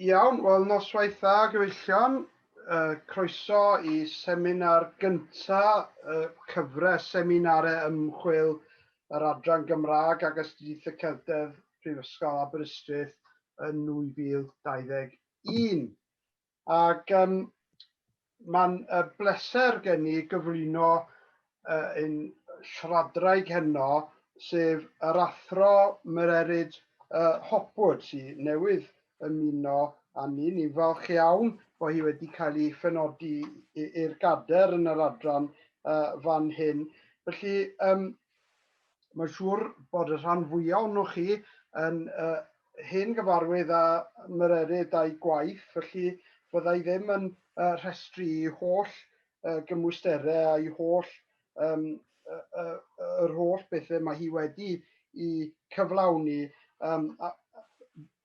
Iawn, wel noswaith dda gyfeillion. Uh, croeso i seminar gyntaf y uh, cyfres seminarau ymchwil yr Adran Gymraeg ac Astudiaeth y Celtedd Prifysgol Aberystwyth yn 2021. Ac um, mae'n uh, bleser gen i gyflwyno uh, ein siaradraig heno, sef yr athro Mererid uh, Hopwood, sy'n newydd ymuno â ni. Ni'n falch iawn bod hi wedi cael ei phenodi i'r gader yn yr adran uh, fan hyn. Felly, um, Mae'n siŵr bod y rhan fwyaf ohonoch chi yn uh, hen gyfarwydd a myrerid a'i gwaith, felly fydda i ddim yn uh, rhestru i holl uh, gymwysterau a'i holl um, uh, uh, yr holl bethau mae hi wedi i cyflawni, um,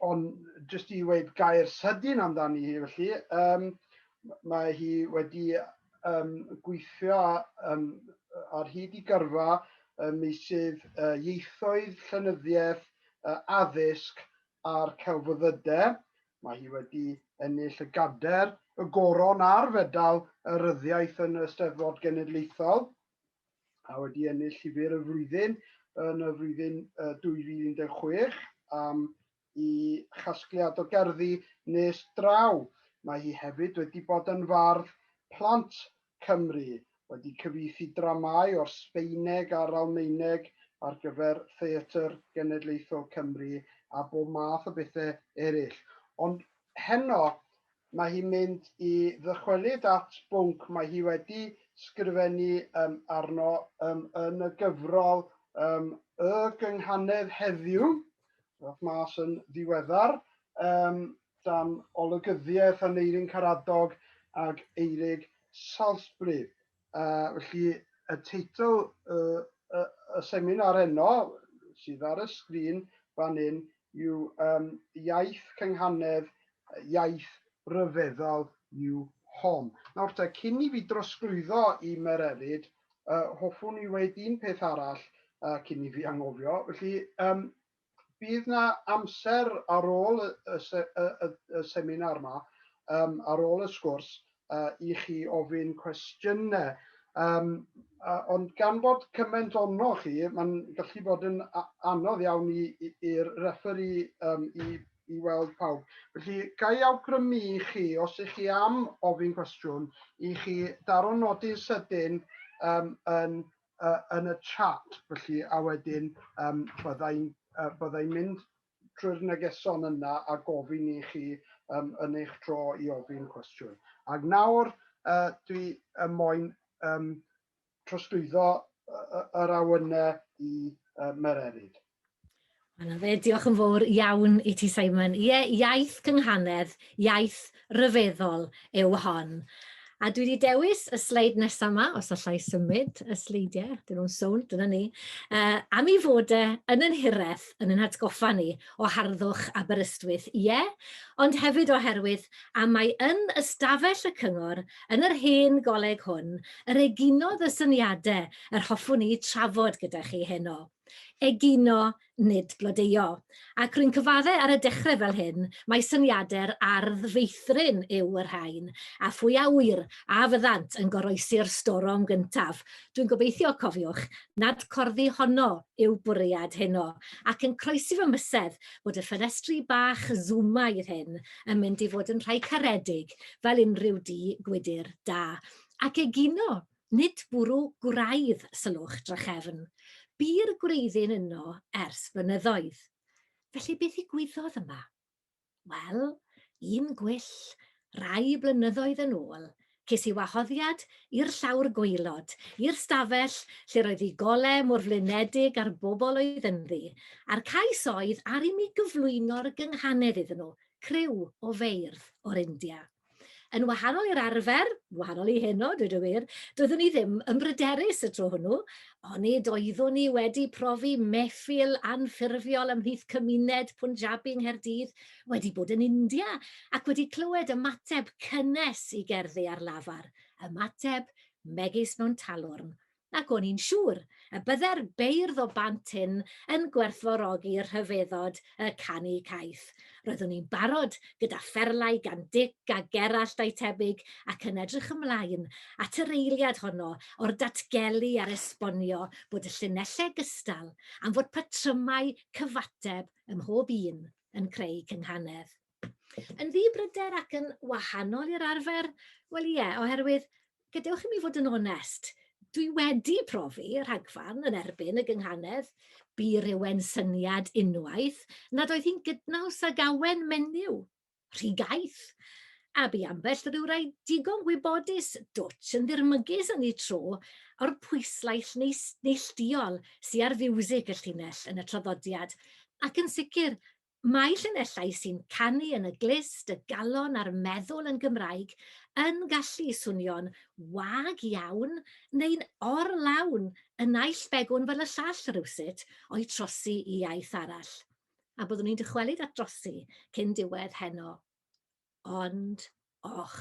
ond jyst i weud gair sydyn amdani hi felly, um, mae hi wedi um, gweithio um, ar hyd i gyrfa ym meysydd uh, ieithoedd, llenyddiaeth, uh, addysg a'r celfyddydau. Mae hi wedi ennill y gader, y goron a'r fedal y ryddiaeth yn y Steddfod Genedlaethol a wedi ennill llyfr y flwyddyn yn y flwyddyn uh, 2016 am i chasgliad o gerddi nes draw. Mae hi hefyd wedi bod yn fardd plant Cymru, wedi cyfieithu dramâu o'r Sbaeneg a'r Almaeneg ar gyfer Theatr Genedlaethol Cymru a bob math o bethau eraill. Ond heno mae hi'n mynd i ddychwelyd at bwnc mae hi wedi sgrifennu um, arno um, yn y gyfrol um, Y Gynghanedd Heddiw, Roedd mas yn ddiweddar um, dan olygyddiaeth Aneirin Caradog ag Eirig Salisbury. Uh, felly, y teitl y, y, y seminar enno sydd ar y sgrin fan hyn yw um, Iaith Cynghanedd, Iaith Ryfeddol yw Hon. Nawr te, cyn i fi drosglwyddo i Mererid, Yy, hoffwn i weud un peth arall uh, cyn i fi anghofio. Felly, um, bydd na amser ar ôl y, y, y, y, y seminar yma, um, ar ôl y sgwrs, uh, i chi ofyn cwestiynau. Um, uh, ond gan bod cymaint ono chi, mae'n gallu bod yn anodd iawn i'r referee um, i i weld pawb. Felly, ga i awgrymu i chi, os ych chi am ofyn cwestiwn, i chi daro nodi'n sydyn um, yn, uh, yn y chat, felly, a wedyn um, byddai'n uh, byddai mynd trwy'r negeson yna a gofyn i chi um, yn eich tro i ofyn cwestiwn. Ac nawr, uh, dwi y moyn um, trosglwyddo yr awynau i Mererid. Wel, fe, diolch yn fawr iawn i ti, Simon. Ie, yeah, iaith cynghanedd, iaith ryfeddol yw hon. A dwi wedi dewis y sleid nesaf yma, os allai symud y sleidiau, dyn nhw'n sownd, dyna ni, uh, am ei fod e yn yn hireth yn yn hatgoffa ni o harddwch Aberystwyth, ie, yeah, ond hefyd oherwydd am mae yn ystafell y cyngor Yn yr hen goleg hwn, yr eginodd y syniade yr hoffwn i trafod gyda chi heno. Egino, nid blodeuo. Ac rwy'n cyfadde ar y dechre fel hyn, mai syniade'r ardd feithrin yw y rhain, a phwy a ŵyr a fyddant yn goroesi'r storom gyntaf. Dwi'n gobeithio, cofiwch, nad corddi honno yw bwriad heno, ac yn croesi fy mhysedd bod y ffenestri bach Zoomaidd hyn yn mynd i fod yn rhai caredig fel unrhyw du gwydr da, ac egino, nid bwrw gwraidd, sylwch, drachefn. Bu'r gwreiddyn yno ers blynyddoedd. Felly beth ddigwyddodd yma? Wel, un gwyll, rai blynyddoedd yn ôl, ces i wahoddiad i'r llawr gwaelod, i'r stafell lle roedd i gole mor flinedig a'r bobl oedd ynddi, a'r cais oedd ar i mi gyflwyno'r gynghanedd iddyn nhw, criw o feirdd o'r India. Yn wahanol i'r arfer, wahanol i heno, dweud y wir, doeddwn i ddim yn bryderus y tro hwnnw, onid oeddwn i wedi profi mehfil anffurfiol ymhlith cymuned Punjabi yng Nghaerdydd, wedi bod yn India, ac wedi clywed ymateb cynnes i gerddi ar lafar, ymateb megis mewn talwrn, Ac o'n i'n siŵr y bydde'r beirdd o Bant Ynn yn gwerthfawrogi rhyfeddod y canu caeth. Roeddwn i'n barod gyda pherlau gan Dic a Gerallt a'u tebyg ac yn edrych ymlaen at yr eiliad honno o'r datgelu a'r esbonio bod y llinellau gystal am fod patrymau cyfateb ym mhob un yn creu cynghanedd. Yn ddibryder ac yn wahanol i'r arfer? Wel ie, oherwydd, gadewch i mi fod yn onest, dwi wedi profi y rhagfarn yn erbyn y gynghanedd, bu rywun syniad unwaith nad oedd hi'n gydnaws ag awen menyw, rhy gaeth, a bu ambell ryw rai digon gwybodus dwtsh yn ddirmygus yn eu tro o'r pwyslais neillduol sy ar fiwsig y llinell yn y traddodiad, ac yn sicr, Mae llinellau sy'n canu yn y glust, y galon a'r meddwl yn Gymraeg yn gallu swnio'n wag iawn neu'n or-lawn y naill begwn fel y llall rywsut o'u trosi i iaith arall. A byddwn i'n dychwelyd at drosi cyn diwedd heno. Ond, och!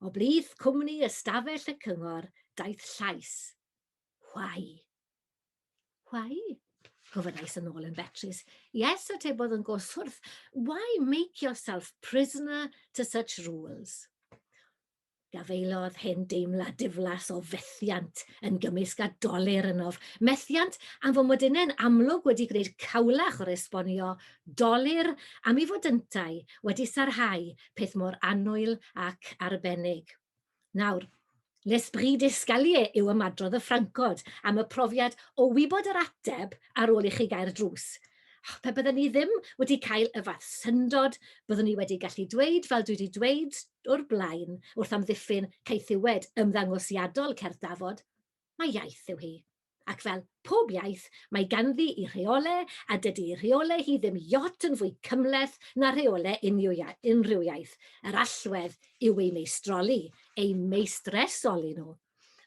O blith cwmni ystafell y cyngor daeth llais, Whai! Why? Gofynnais yn ôl yn betrus. Yes, atebodd yn goswrth. Why make yourself prisoner to such rules? Gafaelodd hen deimlad diflas o fethiant yn gymysg a doler ynof. Methiant am fod modunau'n amlwg wedi gwneud cawlach o'r esbonio, doler am ei fod yntau wedi sarhau peth mor anwyl ac arbennig. Nawr, l'esprit d'escalier yw ymadrodd y Ffrancod am y profiad o wybod yr ateb ar ôl i chi gau'r drws. Och, pe bydden ni ddim wedi cael y fath syndod, byddwn ni wedi gallu dweud, fel dwi wedi dweud o'r blaen, wrth amddiffyn caethiwed ymddangosiadol cerdd Dafod, Mae iaith yw hi. Ac fel pob iaith, mae ganddi i rheole, a dydy i rheole hi ddim iot yn fwy cymhleth na rheole unrhyw iaith. Yr allwedd yw eu meistroli, eu meistresoli nhw.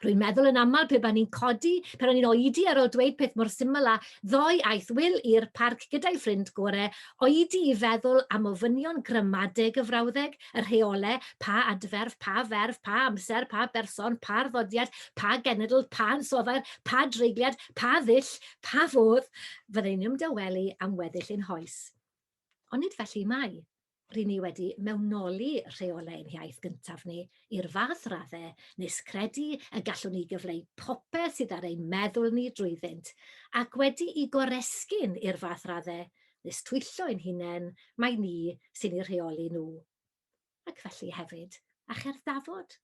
Rwy'n meddwl yn aml pe ba'n i'n codi pan o'n i'n oedi ar ol dweud peth mor syml â Ddoe aeth Wil i'r parc gyda'i ffrind gore oedi i feddwl am ofynion gramadeg y frawddeg y rheolau, pa adferf, pa ferf, pa amser, pa berson, pa arddodiad, pa genedl, pa ansoddair, pa dreigliad, pa ddull, pa fodd, fydden ni'n ymdawelu am weddill ein hoes. Ond nid felly mai. Ry'n ni wedi mewnoli rheolau ein hiaith gyntaf ni i'r fath raddau nes credu y gallwn ni gyfleu popeth sydd ar ein meddwl ni drwyddynt, ac wedi i goresgyn i'r fath raddau nes twyllo ein hunain mai ni sy'n eu rheoli nhw. Ac felly hefyd, a cherdd Dafod?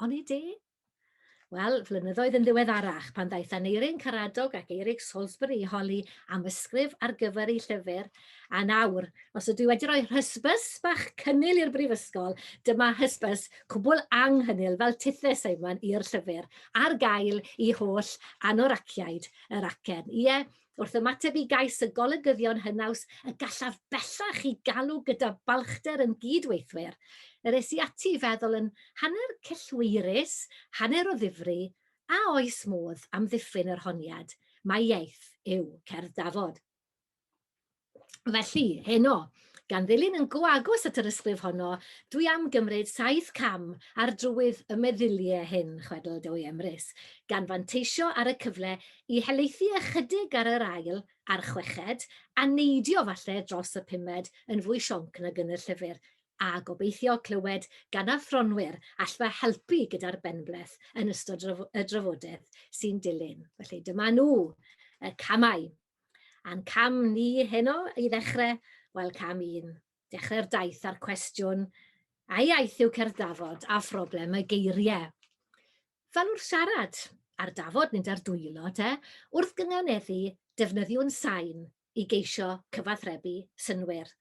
Onid e? Wel, flynyddoedd yn ddiweddarach, pan ddaeth Aneurin Karadog ac Eirig Salisbury i holi am ysgrif ar gyfer ei llyfr, a nawr, os ydw i wedi rhoi hysbys bach cynnil i'r brifysgol, dyma hysbys cwbl anghynnil fel tithe Simon i'r llyfr, ar gael i holl anoraciaid yr acen. Ie, Wrth ymateb i gais y golygyddion hynaws y gallaf bellach i galw gyda balchder yn gyd-weithwyr, yr es i ati i feddwl yn hanner cyllweirus, hanner o ddifri, a oes modd amddiffyn yr honiad mai iaith yw cerdd dafod? Felly, heno, gan ddilyn yn go agos at yr ysgrif honno, dwi am gymryd saith cam ar drywydd y meddyliau hyn, chwedl Dewi Emrys, gan fanteisio ar y cyfle i helaethu ychydig ar yr ail a'r chweched, a neidio falle dros y pumed yn fwy sionc nag yn y llyfr, a gobeithio clywed gan athronwyr all fy helpu gyda'r benbleth yn ystod y drafodaeth sy'n dilyn. Felly, dyma nhw, y camau. A'n cam ni heno i ddechrau, wel cam un, dechrau'r daith a'r cwestiwn, a iaith yw cerdd dafod a phroblem y geiriau. Fel wrth siarad, ar dafod nid ar dwylo te, wrth gynganeddu defnyddiwn sain i geisio cyfathrebu synwyr.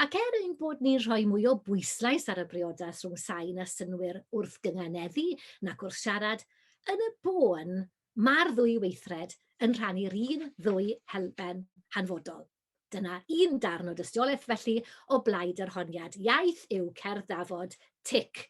Ac er ein bod ni'n rhoi mwy o bwyslais ar y briodas rhwng sain a synwyr wrth gynganeddu nac wrth siarad, yn y bôn Mae'r ddwy weithred yn rhannu'r un ddwy helben hanfodol. Dyna un darn o dystiolaeth, felly, o blaid yr honiad iaith yw cerdd dafod, tic.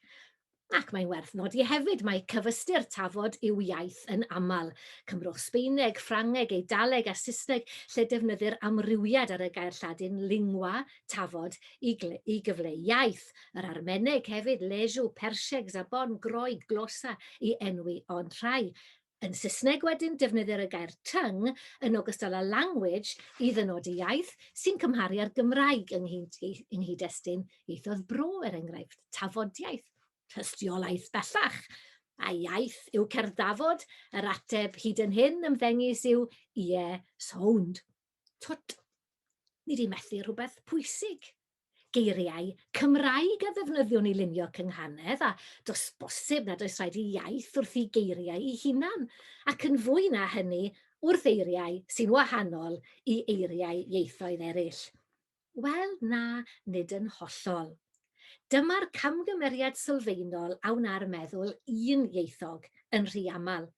Ac mae'n werth nodi hefyd mai cyfystyr tafod yw iaith yn aml. Cymrwch Sbaeneg, Ffrangeg, Eidaleg a Saesneg lle defnyddir amrywiad ar y gair Lladin lingua, Tafod i i gyfleu iaith, yr Armeneg hefyd, Leju, Perseg, Zabon, Groeg, Glosa i enwi ond rhai. Yn Saesneg wedyn, defnyddir y gair tongue yn ogystal â language i ddynodi iaith, sy'n cymharu â'r Gymraeg yng yng nghyd-destun ieithoedd bro, er enghraifft, tafodiaith, tystiolaeth bellach. A iaith yw cerdd Dafod? Yr ateb hyd yn hyn ymddengys yw ie, sound. Twt! Ni 'di methu rhywbeth pwysig. Geiriau Cymraeg a ddefnyddiwn i lunio cynghanedd, a does bosib nad oes rhaid i iaith wrthi geiriau ei hunan, ac yn fwy na hynny, wrth eiriau sy'n wahanol i eiriau ieithoedd eraill. Wel, na, nid yn hollol. Dyma'r camgymeriad sylfaenol a wna'r meddwl un ieithog, yn rhy aml.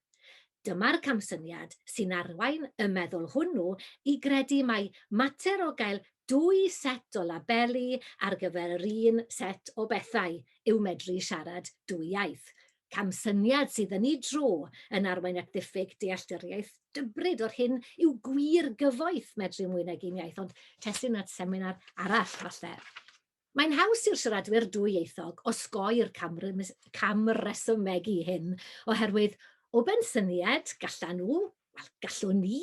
Dyma'r camsyniad sy'n arwain y meddwl hwnnw i gredu mai mater o gael dwy set o labeli ar gyfer yr un set o bethau yw medru siarad dwy iaith, Camsyniad sydd yn ei dro yn arwain at ddiffyg dealltwriaeth dybryd o'r hyn yw gwir gyfoeth medru mwy nag un iaith, ond testun at seminar arall falle. Mae'n haws i'r siaradwyr dwyieithog osgoi'r camresymeg i hyn, oherwydd o bensyniad gallan nhw Wel, gallwn ni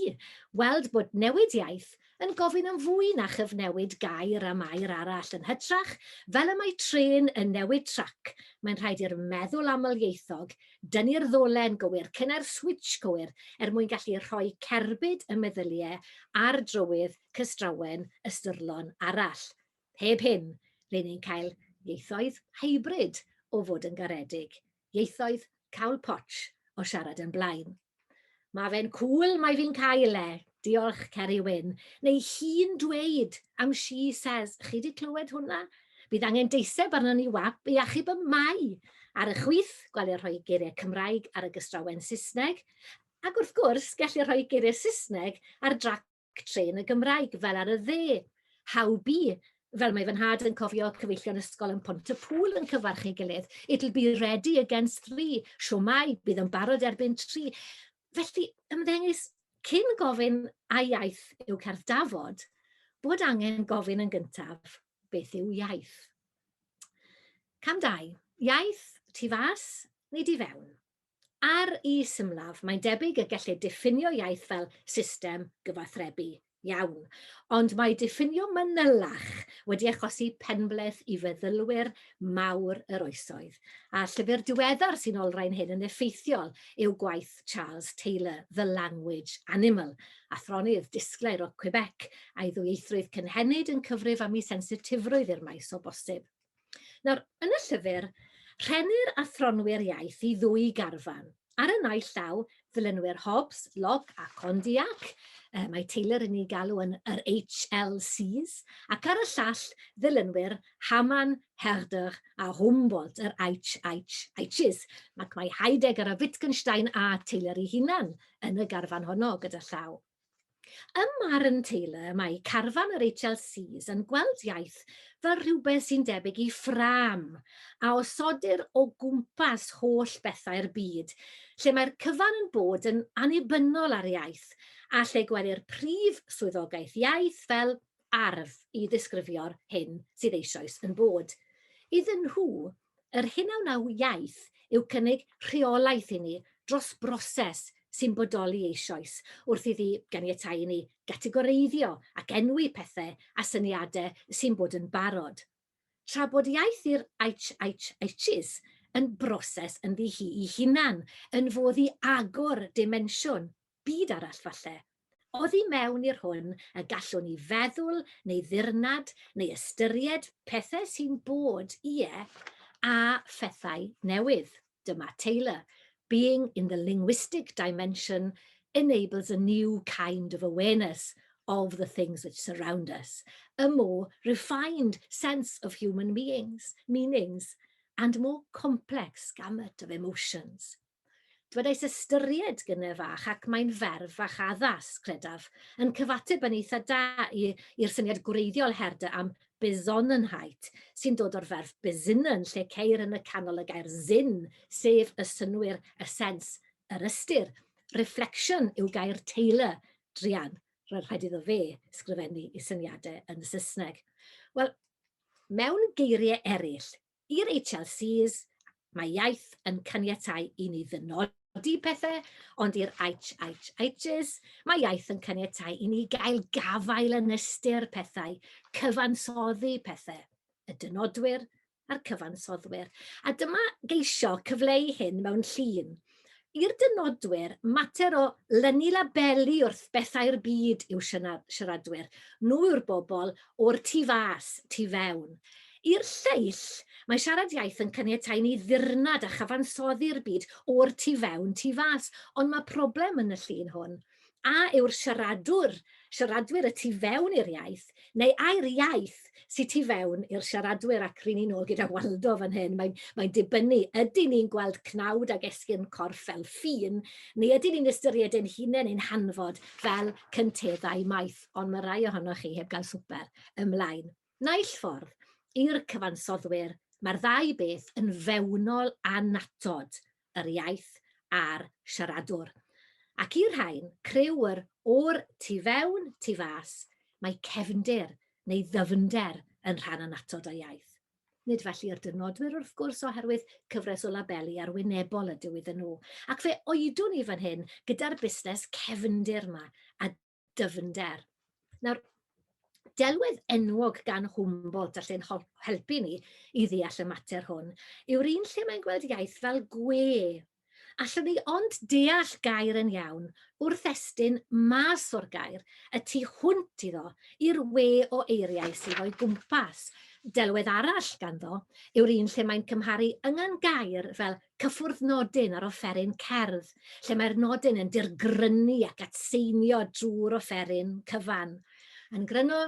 weld bod newid iaith yn gofyn am fwy na chyfnewid gair am air arall. Yn hytrach, fel y mae trên yn newid trac, mae'n rhaid i'r meddwl amlieithog dynnu'r ddolen gywir, cynnar switsh cywir, er mwyn gallu rhoi cerbyd y meddyliau ar drywydd cystrawen ystyrlon arall. Heb hyn, ry'n ni'n cael ieithoedd hybrid o fod yn garedig ieithoedd cawl potsh o siarad yn blaen. Mae fe'n cŵl, mae fi'n cael e. Diolch, Ceri Wyn. Neu hi'n dweud am she says. Chi di clywed hwnna? Bydd angen deiseb arno ni wap i achub y mae ar y chwith, gwelio rhoi geiriau Cymraeg ar y gystrawen Saesneg, ac wrth gwrs, gellir rhoi geiriau Saesneg ar drac Trên y Gymraeg, fel ar y dde. How be, fel mae fy nhad yn cofio cyfeillion ysgol yn pont y pŵl yn cyfarch ei gilydd. It'll be ready against three, siomai, bydd yn barod erbyn tri. Felly, ymddengys, cyn gofyn a iaith yw cerdd dafod, bod angen gofyn yn gyntaf beth yw iaith. Cam dau, iaith tu fas neu di fewn? Ar y symlaf, mae'n debyg y gellir diffinio iaith fel system gyfathrebu iawn. Ond mae diffinio manylach wedi achosi penbleth i feddylwyr mawr yr oesoedd, a'r llyfr diweddar sy'n olrhain hyn yn effeithiol yw gwaith Charles Taylor, The Language Animal, athronydd disglair o Quebec, a'i ddwyieithrwydd cynhenid yn cyfrif am ei sensitifrwydd i'r maes o bosib. Nawr, yn y llyfr, rhennir athronwyr iaith i ddwy garfan. Ar y naill llaw, ddilynwyr Hobbes, Locke a Condillac, e, mae Taylor yn ei galw yn yr HLCs, ac ar y llall, ddilynwyr Hamann, Herder a Humboldt, yr HHHs. Ac mae Heidegger a Wittgenstein a Taylor ei hunan yn y garfan honno gyda llaw. Ym marn Taylor, mae carfan yr HLCs yn gweld iaith fel rhywbeth sy'n debyg i ffrâm a osodir o gwmpas holl bethau'r byd, lle mae'r cyfan yn bod yn annibynnol ar iaith a lle gwelir prif swyddogaeth iaith fel arf i ddisgrifio'r hyn sydd eisoes yn bod. Iddyn nhw, Yr hyn a wnaw iaith yw cynnig rheolaeth i ni dros broses sy'n bodoli eisoes wrth iddi ganiatáu i ni gategoreiddio ac enwi pethau a syniadau sy'n bod yn barod. Tra bod iaith i'r HHHs yn broses ynddi hi'i hunan, yn fodd i agor dimensiwn byd arall falle, oddi mewn i'r hwn y gallwn ni feddwl neu ddirnad neu ystyried pethau sy'n bod, ie, a phethau newydd. Dyma Taylor, Being in the linguistic dimension enables a new kind of awareness of the things which surround us, a more refined sense of human beings, meanings, and more complex gamut of emotions. Dwedais ystyried gyne fach ac mae'n ferf fach addas, credaf, yn cyfateb yn eitha da i, i'r syniad gwreiddiol herde am Besonnenheit, sy'n dod o'r ferf besinnen lle ceir yn y canol y gair Sinn, sef y synnwyr, y sens, yr ystyr. Reflection yw gair Taylor, druan, roedd rhaid iddo fe sgrifennu i syniadau yn y Saesneg. Wel, mewn geiriau eraill, I'r HLCs, mae iaith yn caniatáu i ni ddynodi pethau, ond i'r HHHs, mae iaith yn caniatáu i ni gael gafael yn ystyr pethau, cyfansoddi pethau, y dynodwyr a'r cyfansoddwyr. A dyma geisio cyfleu hyn mewn llun, I'r dynodwyr, mater o lynu labeli wrth bethau'r byd yw siaradwyr, nhw yw'r bobl o'r tu fas, tu fewn. I'r lleill, mae siarad iaith yn caniatáu i ni ddirnad a chyfansoddi'r byd o'r tu fewn, tu fas, ond mae problem yn y llun hwn. A yw'r siaradwr, siaradwyr y tu fewn i'r iaith, neu ai'r iaith sy tu fewn i'r siaradwyr, ac ry'n ni'n ôl gyda Waldo fan hyn, mae'n mae dibynnu, ydyn ni'n gweld cnawd ag esgyrn corff fel ffin, neu ydyn ni'n ystyried ein hunain ein hanfod fel cynteddau maith, ond mae rai ohonoch chi heb gael swper ymlaen. Naill ffordd, i'r cyfansoddwyr, mae'r ddau beth yn fewnol annatod, yr iaith a'r siaradwr. Ac i'r rhain, criw yr o'r tu fewn, tu fas, mae cefndir, neu ddyfnder, yn rhan annatod o iaith. Nid felly i'r dynodwyr, wrth gwrs, oherwydd cyfres o labeli arwynebol ydyw iddyn nhw. Ac fe oedwn i fan hyn gyda'r busnes cefndir 'ma, a dyfnder. Nawr, delwedd enwog gan Humboldt a lle'n helpu ni i ddeall y mater hwn yw'r un lle mae'n gweld iaith fel gwe. Allwn ni ond deall gair yn iawn wrth estyn mas o'r gair y tu hwnt iddo i'r we o eiriau sydd o'i gwmpas. Delwedd arall ganddo yw'r un lle mae'n cymharu yngan gair fel Cyffwrdd nodyn ar offeryn cerdd, lle mae'r nodyn yn dirgrynu ac atseinio drwy'r offeryn cyfan. Yn gryno,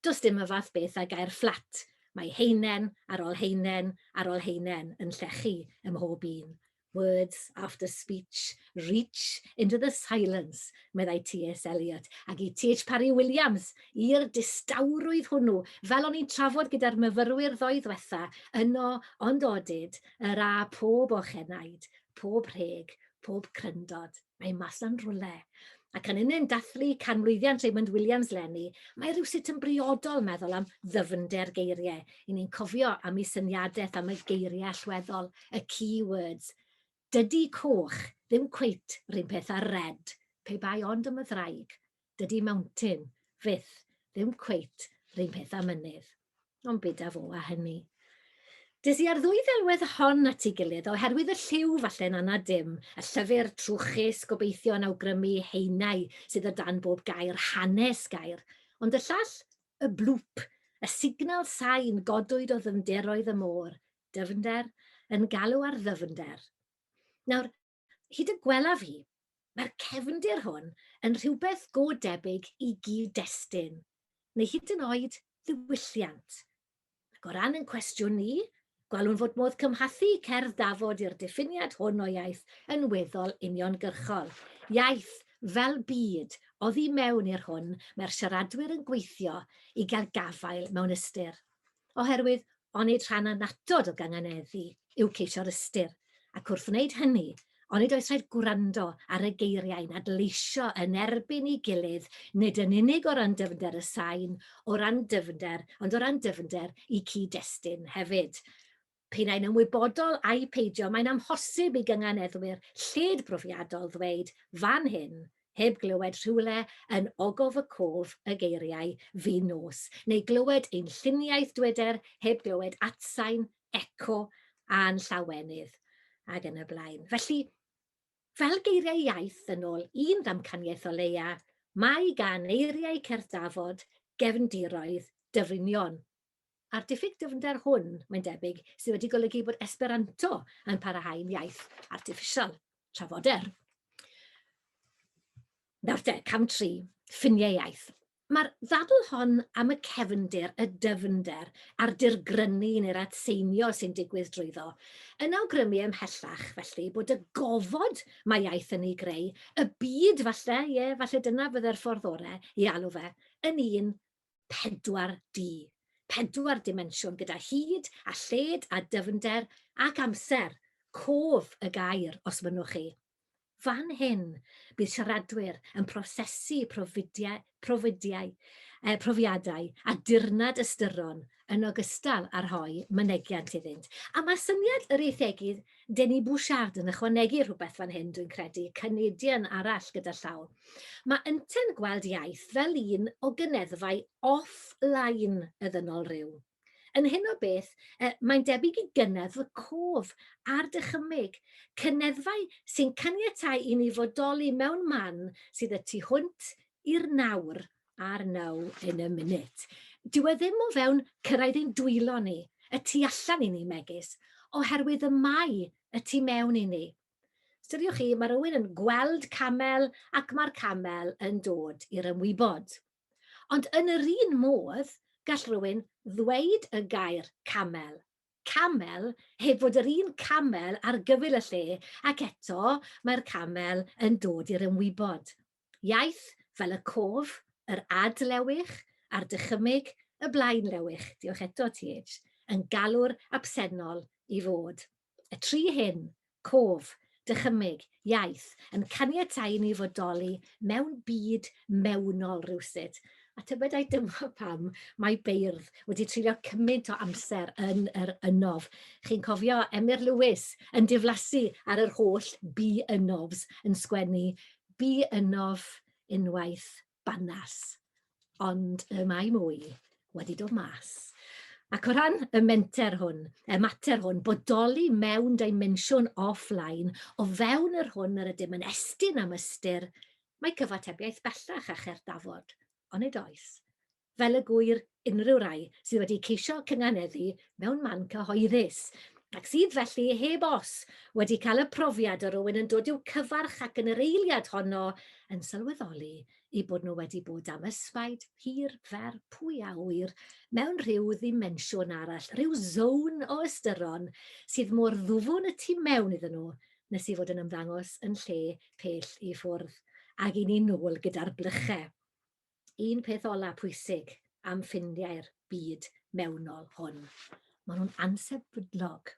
does dim y fath beth â gair fflat, mae haenen ar ol haenen ar ol haenen yn llechu ym mhob un. Words after speech, Reach into the silence, meddai T.S. Eliot, ac i T.H. Parry Williams, i'r distawrwydd hwnnw, fel o'n i'n trafod gyda'r myfyrwyr ddoe ddwetha, yno, ond odid, yr a pob o'ch enaid, pob rheg, pob cryndod, mae mas na'n rwle. Ac yn unen dathlu canmlwyddiant Raymond Williams lenni, mae rhywsut yn briodol meddwl am ddyfnder geiriau, i ni'n cofio am ei syniadaeth am y geiriau allweddol, y key words, Dydi coch ddim cweit run peth â'r red, pe bai ond am y ddraig. Dydi mountain, fyth, ddim cweit run peth â mynydd. Ond be da fo a hynny. Des i â'r ddwy ddelwedd hon at ei gilydd oherwydd y lliw, falle'n anad dim, y llyfr, trwchus, gobeithio yn awgrymu haenau sydd o dan bob gair, hanes gair, ond y llall, y bloop, y signal sain godwyd o ddyfnderoedd y môr, Dyfnder, yn galw ar ddyfnder. Nawr, hyd y gwelaf i, mae'r cefndir hwn yn rhywbeth go debyg i gyd-destun, neu hyd yn oed ddiwylliant. Ac o ran yn cwestiwn ni, gwelwn fod modd cymhathu cerdd Dafod i'r diffiniad hwn o iaith yn weddol uniongyrchol. Iaith fel byd, oddi mewn i'r hwn mae'r siaradwyr yn gweithio i gael gafael mewn ystyr. oherwydd onid rhan annatod o gynganeddu yw ceisio'r ystyr, ac wrth wneud hynny, onid oes rhaid gwrando ar y geiriau'n adleisio yn erbyn ei gilydd nid yn unig o ran dyfnder y sain, o ran dyfnder, ond o ran dyfnder y cyd-destun hefyd. P'un ai'n ymwybodol ai peidio, mae'n amhosib i gynganeddwyr lled brofiadol ddweud fan hyn, heb glywed rhywle yn Ogof y Cof y geiriau 'fin nos', neu glywed ein lluniaeth dweder heb glywed atsain, eco, a'n llawenydd, ac yn y blaen. Felly, fel geiriau iaith, yn ôl un ddamcaniaeth o leia, mae gan eiriau Cerdd Dafod gefndiroedd dyfrinion, A'r diffyg dyfnder hwn, mae'n debyg, sydd wedi golygu bod Esperanto yn parahau'n iaith artiffisial, trafoder. Nawr te, cam tri, ffiniau iaith. Mae'r ddadl hon am y cefnder, y dyfnder a'r dirgrynu neu'r atseinio sy'n digwydd drwyddo yn awgrymu ymhellach felly bod y gofod mae iaith yn ei greu, y byd falle, ie, falle dyna fydde'r ffordd orau i alw fe, yn un 4D, pedwar dimensiwn gyda hyd a lled a dyfnder ac amser, cof y gair os mynnwch chi. Fan hyn, bydd siaradwyr yn prosesu profidiau, profidiau, eh, profiadau a dirnad ystyron yn ogystal â rhoi mynegiant iddynt. A mae syniad yr eithegydd Denis Bouchard yn ychwanegu rhywbeth fan hyn, dwi'n credu, cynidian arall gyda llaw. Mae ynte'n gweld iaith fel un o gyneddfau off-line y ddynol ryw. Yn hyn o beth, e, mae'n debyg i gyneddf y cof a'r dychymyg, cyneddfau sy'n caniatáu i ni fodoli mewn man sydd y tu hwnt i'r nawr ar now in a minute. Dyw e ddim o fewn cyrraedd ein dwylo ni, y tu allan i ni megis, oherwydd y mae y tu mewn i ni. Styriwch chi, mae rhywun yn gweld camel ac mae'r camel yn dod i'r ymwybod. Ond yn yr un modd, gall rhywun ddweud y gair camel, camel, heb fod yr un camel ar gyfyl y lle, ac eto mae'r camel yn dod i'r ymwybod. Iaith fel y cof, yr ad lewych, a'r dychymyg, y blaen lewych, diolch eto TH, yn galw'r absennol i fod. Y tri hyn, cof, dychymyg, iaith, yn caniatáu i ni fodoli mewn byd mewnol rywsut, a tybedai dyma pam mae beirdd wedi treulio cymaint o amser yn yr ynof. Chi'n cofio Emyr Lewis yn diflasu ar yr holl 'be ynofs' yn sgwennu bu ynof unwaith banas, ond y mae mwy wedi dod mas. Ac o ran y menter hwn, y mater hwn, bodoli mewn dimensiwn offline, o fewn yr hwn yr ydym yn estyn am ystyr, mae cyfatebiaeth bellach a cherddafod, onid oes? fel y gŵyr unrhyw rai sydd wedi ceisio cynganeddu mewn man cyhoeddus, ac sydd felly, heb os, wedi cael y profiad o rywun yn dod i'w cyfarch ac yn yr eiliad honno yn sylweddoli eu bod nhw wedi bod am ysbaid hir fer pwy a ŵyr mewn rhyw ddimensiwn arall, rhyw zown o ystyron sydd mor ddwfwn y tu mewn iddyn nhw nes i fod yn ymddangos yn lle pell i ffwrdd, ag i ni nôl gyda'r blychau. un peth ola pwysig am ffrindiau'r byd mewnol hwn. Maen nhw'n ansefydlog.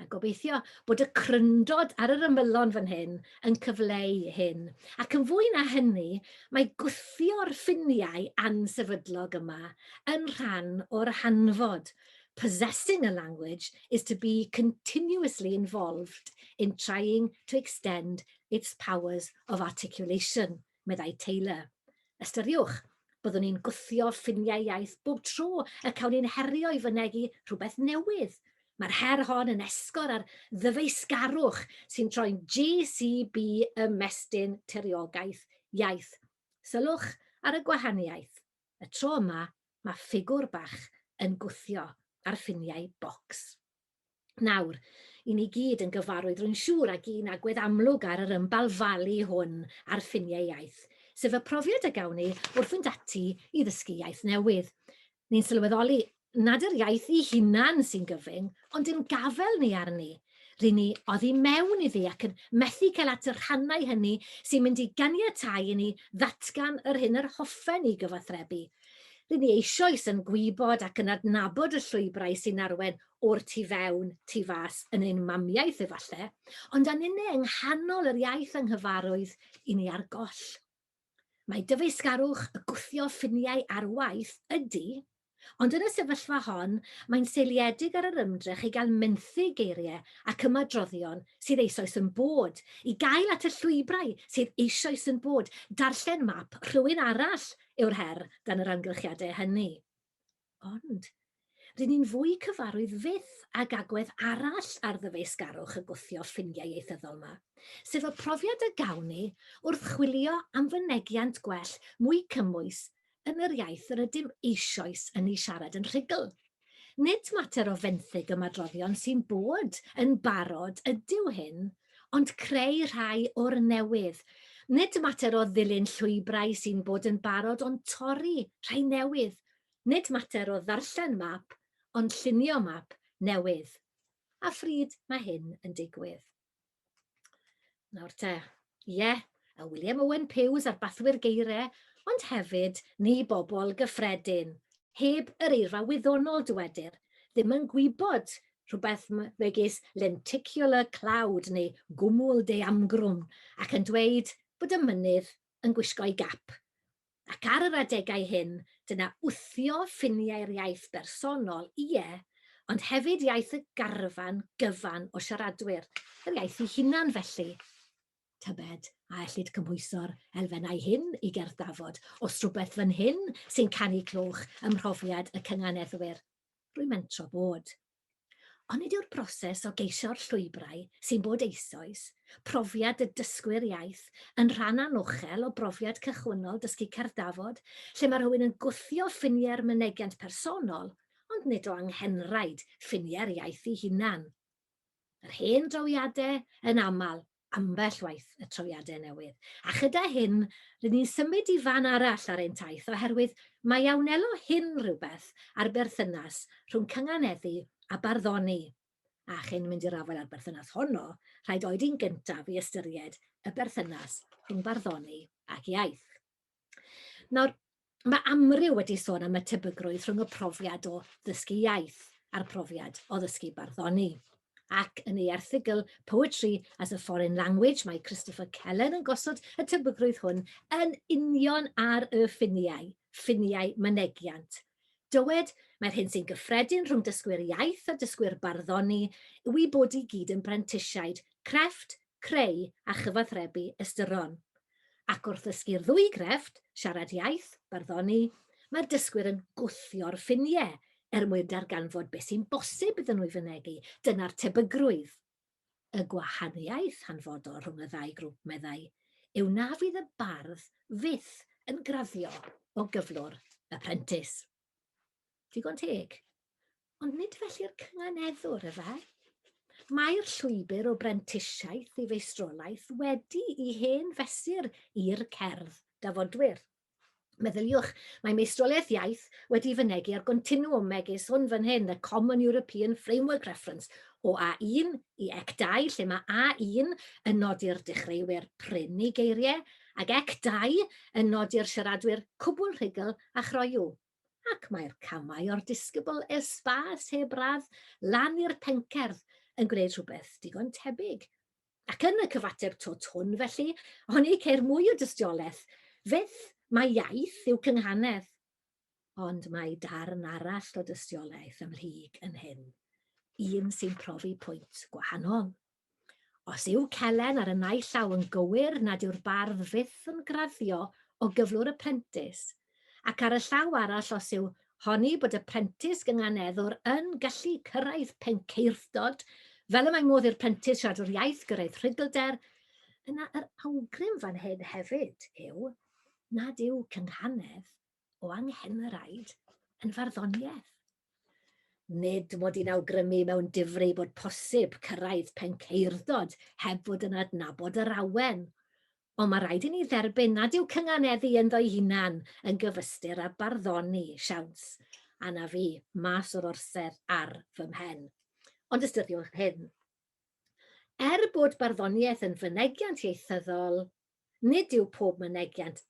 A gobeithio bod y cryndod ar yr ymylon fan hyn yn cyfleu hyn. Ac yn fwy na hynny, mae gwthio'r ffiniau ansefydlog yma yn rhan o'r hanfod. Possessing a language is to be continuously involved in trying to extend its powers of articulation. meddai Taylor. Ystyriwch, byddwn ni'n gwthio ffiniau iaith bob tro y cawn ni'n herio i fynegi rhywbeth newydd. Mae'r her hon yn esgor ar ddyfeisgarwch sy'n troi'n JCB ymestyn tiriogaeth iaith. Sylwch ar y gwahaniaeth. Y tro yma, mae ffigwr bach yn gwthio ar ffiniau bocs. Nawr, i ni gyd yn gyfarwydd rwy'n siŵr ag un agwedd amlwg ar yr ymbalfalu hwn ar ffiniau iaith, sef y profiad a gawn ni wrth fynd ati i ddysgu iaith newydd. Ni'n sylweddoli nad yr iaith ei hunan sy'n gyfyng, ond ein gafael ni arni. Ry'n ni oddi mewn iddi ac yn methu cael at y rhannau hynny sy'n mynd i ganiatáu i ni ddatgan yr hyn yr hoffen ni gyfathrebu, Rŷn ni eisoes yn gwybod ac yn adnabod y llwybrau sy'n arwain o'r tu fewn, tu fas, yn ein mamiaith efallai, ond a ninne yng nghanol yr iaith anghyfarwydd i ni ar goll. Mae dyfeisgarwch y gwthio ffiniau ar waith, ydy, ond yn y sefyllfa hon mae'n seiliedig ar yr ymdrech i gael menthyg geiriau ac ymadroddion sydd eisoes yn bod, i gael at y llwybrau sydd eisoes yn bod, darllen map rhywun arall yw'r her dan yr amgylchiadau hynny. Ond, rŷn ni'n fwy cyfarwydd fyth ag agwedd arall ar ddyfeisgarwch y gwthio ffiniau ieithyddol yma, sef y profiad y gawn ni wrth chwilio am fynegiant gwell mwy cymwys yn yr iaith yr ydym eisoes yn ei siarad yn rhugl. Nid mater o fenthyg ymadroddion sy'n bod yn barod ydyw hyn, ond creu rhai o'r newydd. Nid mater o ddilyn llwybrau sy'n bod yn barod ond torri rhai newydd. Nid mater o ddarllen map ond llunio map newydd. A phryd mae hyn yn digwydd? Nawr te, ie, yeah, a William Owen Pews ar bathwyr geirau, ond hefyd ni bobl gyffredin, heb yr eirfa wyddonol dywedir, ddim yn gwybod rhywbeth megis lenticular cloud neu gwmwl deamgrwn ac yn dweud bod y mynydd yn gwisgo'i gap. Ac ar yr adegau hyn, dyna wthio ffiniau'r iaith bersonol, ie, ond hefyd iaith y garfan gyfan o siaradwyr, yr iaith ei hunan felly. Tybed a ellid cymhwyso'r elfennau hyn i gerdd Dafod? Oes rhywbeth fan hyn sy'n canu clywch ym mhrofiad y cynganeddwyr? Rwy'n mentro bod. Onid yw'r broses o geisio'r llwybrau sy'n bod eisoes, profiad y dysgwyr iaith, yn rhan anochel o brofiad cychwynnol dysgu Cerddafod, lle mae rhywun yn gwthio ffiniau'r mynegiant personol, ond nid o anghenraid ffiniau'r iaith ei hunan? Yr hen drawiadau, yn aml, ambell waith y trawiadau newydd. A chyda hyn, rydyn ni'n symud i fan arall ar ein taith oherwydd mae a wnelo hyn rhywbeth ar berthynas rhwng cynganeddu a barddoni. A chyn mynd i'r afael â'r berthynas honno, rhaid oed yn gyntaf i ystyried y berthynas rhwng barddoni ac iaith. Nawr, mae amryw wedi sôn am y tebygrwydd rhwng y profiad o ddysgu iaith a'r profiad o ddysgu barddoni. Ac yn ei erthygl Poetry as a Foreign Language, mae Christopher Kellen yn gosod y tebygrwydd hwn yn union ar y ffiniau, ffiniau mynegiant, Dywed, Mae'r hyn sy'n gyffredin rhwng dysgwyr iaith a dysgwyr barddoni yw eu bod i gyd yn brentisiaid crefft, creu a chyfathrebu ystyron. Ac wrth ddysgu'r ddwy grefft, siarad iaith, barddoni, mae'r dysgwyr yn gwthio'r ffiniau er mwyn darganfod beth sy'n bosib iddyn nhw ei fynegi, dyna'r tebygrwydd. Y gwahaniaeth hanfodol rhwng y ddau grwp, meddai, yw na fydd y bardd fyth yn graddio o gyflwr y prentis. Digon teg. Ond nid felly'r cynganeddwr, efe? Mae'r llwybr o brentisiaeth i feistrolaeth wedi i hen fesur i'r cerdd dafodwyr. Meddyliwch, mae meistroliaeth iaith wedi fynegi ar gontinuwm megis hwn fan hyn, y Common European Framework Reference, o A1 i Ec2, lle mae A1 yn nodi'r dechreuwyr prin i geiriau, ac Ec2 yn nodi'r siaradwyr cwbl rhugl a chroyw. Ac mae'r camau o'r disgybl esbâs heb radd lan i'r pencerdd yn gwneud rhywbeth digon tebyg. Ac yn y cyfateb twt hwn, felly, oni ceir mwy o dystiolaeth, fyth, mai iaith yw cynghanedd. Ond mae darn arall o dystiolaeth ymhlyg yn hyn, un sy'n profi pwynt gwahanol. Os yw Celen ar y naill llaw yn gywir nad yw'r bardd fyth yn graddio o gyflwr y prentis ac ar y llaw arall os yw honni bod y prentis gynganeddwr yn gallu cyrraedd pencaerthdod, fel y mae modd i'r prentis siaradwr iaith gyrraedd rhugylder, yna yr awgrym fan hyn hefyd yw nad yw cynghanedd o anghennaraid yn farddoniaeth. Nid mod i'n awgrymu mewn difri bod posib cyrraedd pencaerthdod heb fod yn adnabod yr awen, Ond mae rhaid i ni dderbyn nad yw cynganeddu ynddo'i hunan yn gyfystyr â barddoni, siawns, a na fu, mas o'r orsedd ar fy mhen. Ond ystyriwch hyn. Er bod barddoniaeth yn fynegiant ieithyddol, nid yw pob mynegiant,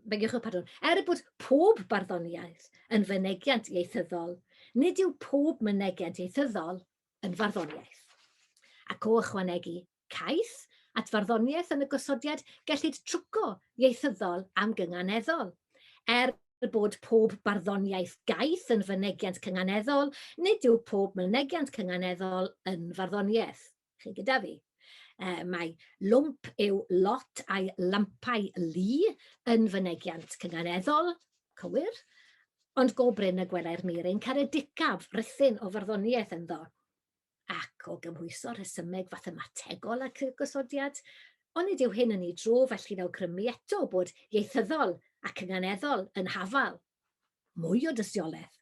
begiwch y pardwn, er bod pob barddoniaeth yn fynegiant ieithyddol, nid yw pob mynegiant ieithyddol yn farddoniaeth. Ac o ychwanegu, Caiff, at farddoniaeth yn y gosodiad, gellid trwco ieithyddol am gynganeddol. Er bod pob barddoniaeth gaeth yn fynegiant cynganeddol, nid yw pob mynegiant cynganeddol yn farddoniaeth. Chi gyda fi? E, mae lwmp yw lot a'i lampau lu yn fynegiant cynganeddol, cywir, ond go brin y gwelai'r mir ein caredicaf rithyn o farddoniaeth ynddo. ac o gymhwyso rhesymeg fathemategol ac y gosodiad, onid yw hyn yn ei dro felly'n awgrymu eto bod ieithyddol ac ynganeddol yn hafal mwy o dystiolaeth?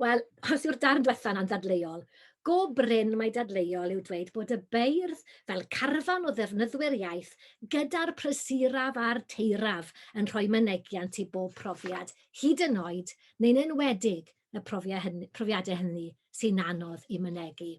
Wel, os yw'r darn diwetha'n anddadleuol, go brin mai dadleuol yw dweud bod y beirdd fel carfan o ddefnyddwyr iaith gyda'r prysuraf a'r teiraf yn rhoi mynegiant i bob profiad, hyd yn oed, neu'n enwedig, y profiadau hynny sy'n anodd i mynegi.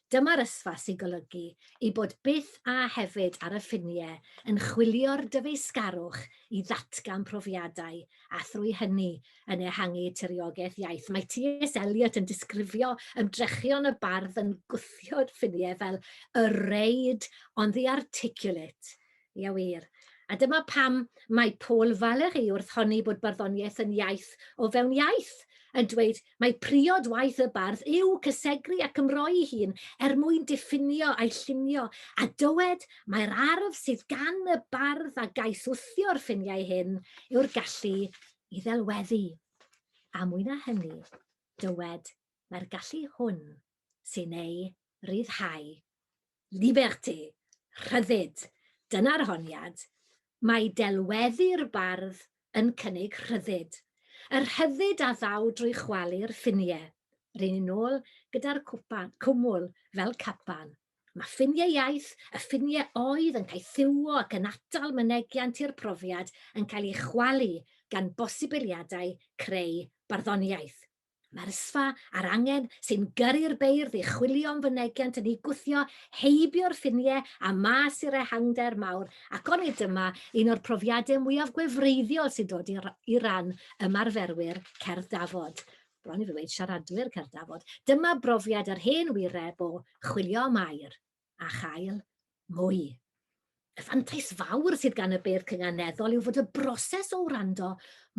Dyma'r ysfa sy'n golygu ei bod byth a hefyd ar y ffiniau yn chwilio'r dyfeisgarwch i ddatgan profiadau a thrwy hynny yn ehangu tiriogaeth iaith. Mae TS Eliot yn disgrifio ymdrechion y bardd yn gwthio'r ffiniau fel 'a reid on the articulate', Ia wir. A dyma pam mae Paul Valéry wrth honni bod barddoniaeth yn iaith o fewn iaith, yn dweud mae priod waith y bardd yw cysegru ac ymroi'i hun er mwyn diffinio a'i llunio, a dywed mai'r arf sydd gan y bardd a gaeth wthio'r ffiniau hyn yw'r gallu i ddelweddu. A mwy na hynny, dywed mai'r gallu hwn sy'n ei ryddhau. Liberté, rhyddid, dyna'r honiad, mae delweddu'r bardd yn cynnig rhyddid, y rhyddid a ddaw drwy chwalu'r ffiniau, ry'n ni'n ôl gyda'r cwpan, cwmwl fel capan. Mae ffiniau iaith, y ffiniau oedd yn caethiwo ac yn atal mynegiant i'r profiad yn cael ei chwalu gan bosibiliadau creu barddoniaeth. Mae'r sfa a'r angen sy'n gyrru'r beirdd i chwilio am fynegiant yn eu gwthio heibio'r ffiniau a mas i'r ehangder mawr ac onid dyma un o'r profiadau mwyaf gwefreiddiol sy'n dod i ran ymarferwyr Cerdd Dafod, bron i fi weud siaradwyr Cerdd Dafod, dyma brofiad yr hen wire bo chwilio am air. a chael mwy. Y fantais fawr sydd gan y beirdd cynganeddol yw fod y broses o wrando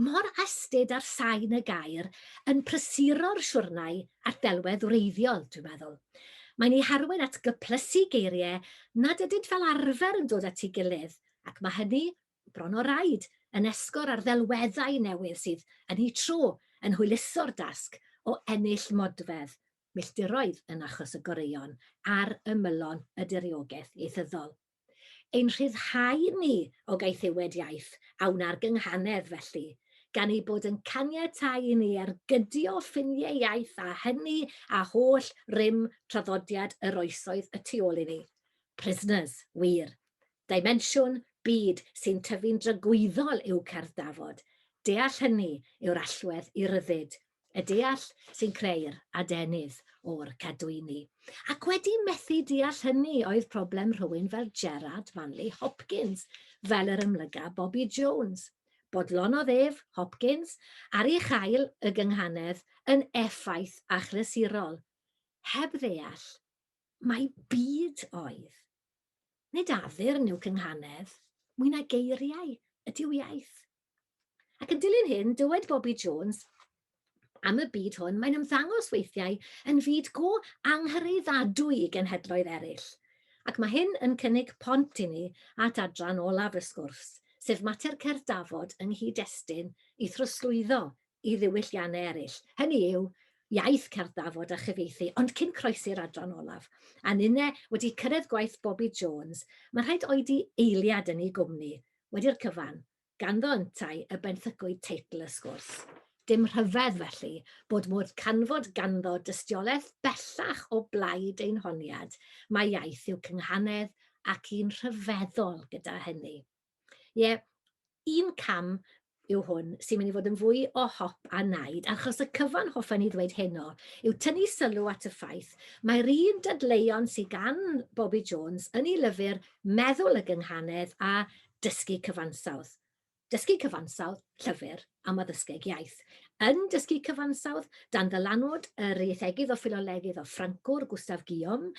mor astud ar sain y gair yn prysuro'r siwrnau a'r delwedd wreiddiol, dwi'n meddwl. Mae'n ei harwain at gyplysu geiriau nad ydynt fel arfer yn dod at ei gilydd, ac mae hynny, bron o raid, yn esgor ar ddelweddau newydd sydd, yn eu tro, yn hwyluso'r dasg o ennill modfedd milltiroedd yn achos y goreuon ar ymylon y diriogaeth ieithyddol. Ein rhyddhau ni o gaethiwed iaith a wna'r gynghanedd, felly, gan ei bod yn caniatáu i ni ergydio ffiniau iaith a hynny a holl rym traddodiad yr oesoedd y tu ôl i ni. Prisoners, wir. Dimensiwn byd sy'n tyfu'n dragwyddol yw cerdd Dafod. Deall hynny yw'r allwedd i ryddid y deall sy'n creu'r adenydd o'r cadwyni. Ac wedi methu deall hynny oedd problem rhywun fel Gerard Manley Hopkins, fel yr ymlyga Bobby Jones. Bodlonodd ef, Hopkins, ar ei chael y gynghanedd yn effaith achlysurol, heb ddeall mai byd oedd. Nid addurn yw cynghanedd, mwy na geiriau ydyw iaith. Ac yn dilyn hyn, dywed Bobby Jones, am y byd hwn, mae'n ymddangos weithiau yn fyd go anghyreiddadwy i genhedloedd eraill. Ac mae hyn yn cynnig pont i ni at adran olaf y sgwrs, sef mater cerdd Dafod yng nghyd-destun i throsglwyddo i ddiwylliannau eraill, hynny yw, iaith cerdd Dafod a chyfieithu, ond cyn croesi'r adran olaf, a ninne wedi cyrraedd gwaith Bobby Jones, mae rhaid oedi eiliad yn ei gwmni, wedi'r cyfan. Ganddo yntau y benthycwyd teitl y sgwrs. Dim rhyfedd, felly, bod modd canfod ganddo dystiolaeth bellach o blaid ein honiad mai iaith yw cynghanedd ac un rhyfeddol gyda hynny. Ie, un cam yw hwn sy'n mynd i fod yn fwy o hop a naid, achos y cyfan hoffen i ddweud heno yw tynnu sylw at y ffaith mae'r un dadleuon sydd gan Bobi Jones yn ei lyfr Meddwl y Gynghanedd a Dysgu Cyfansawdd. Dysgu Cyfansawdd, Llyfr am Addysgeg Iaith. Yn Dysgu Cyfansawdd, dan ddylanwad yr ieithegydd o ffilolegydd o Ffrancwr, Gustave Guillaume,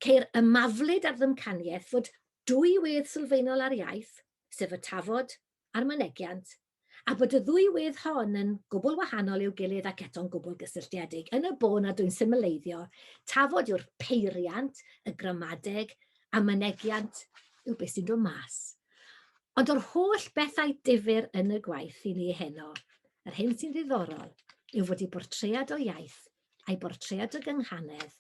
ceir ymaflyd ar ddymcaniaeth fod dwy wedd sylfaenol ar iaith, sef y tafod a'r mynegiant, a bod y ddwy wedd hon yn gwbl wahanol i'w gilydd ac eto'n gwbl gysylltiedig, yn y bôn nad yw'n simileiddio, tafod yw'r peiriant, y gramadeg, a mynegiant yw beth sy'n dod mas. Ond o'r holl bethau difyr yn y gwaith i ni heno, yr hyn sy'n ddiddorol yw fod ei bortread o iaith a'i bortread o gynghanedd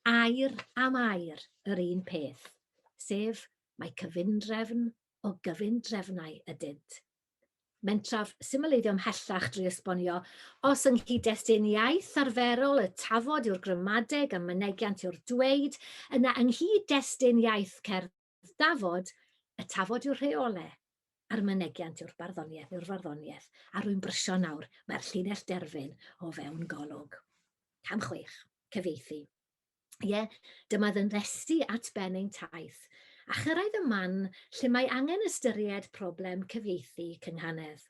air am air yr un peth, sef mae cyfundrefn o gyfundrefnau ydynt. Mentraf symleiddio ymhellach drwy esbonio, os yng nghyd-destun iaith arferol y tafod yw'r gramadeg a mynegiant yw'r dweud, yna yng nghyd-destun iaith cerdd dafod, y tafod yw'r rheole, a'r mynegiant yw'r barddoniaeth, yw'r farddoniaeth, a rwy'n brysio nawr, mae'r llinell derfyn o fewn golwg. Cam chwech, cyfieithu. Ie, dyma fy nddesty at ben ein taith, a chyrraedd y man lle mae angen ystyried problem cyfieithu cynghanedd.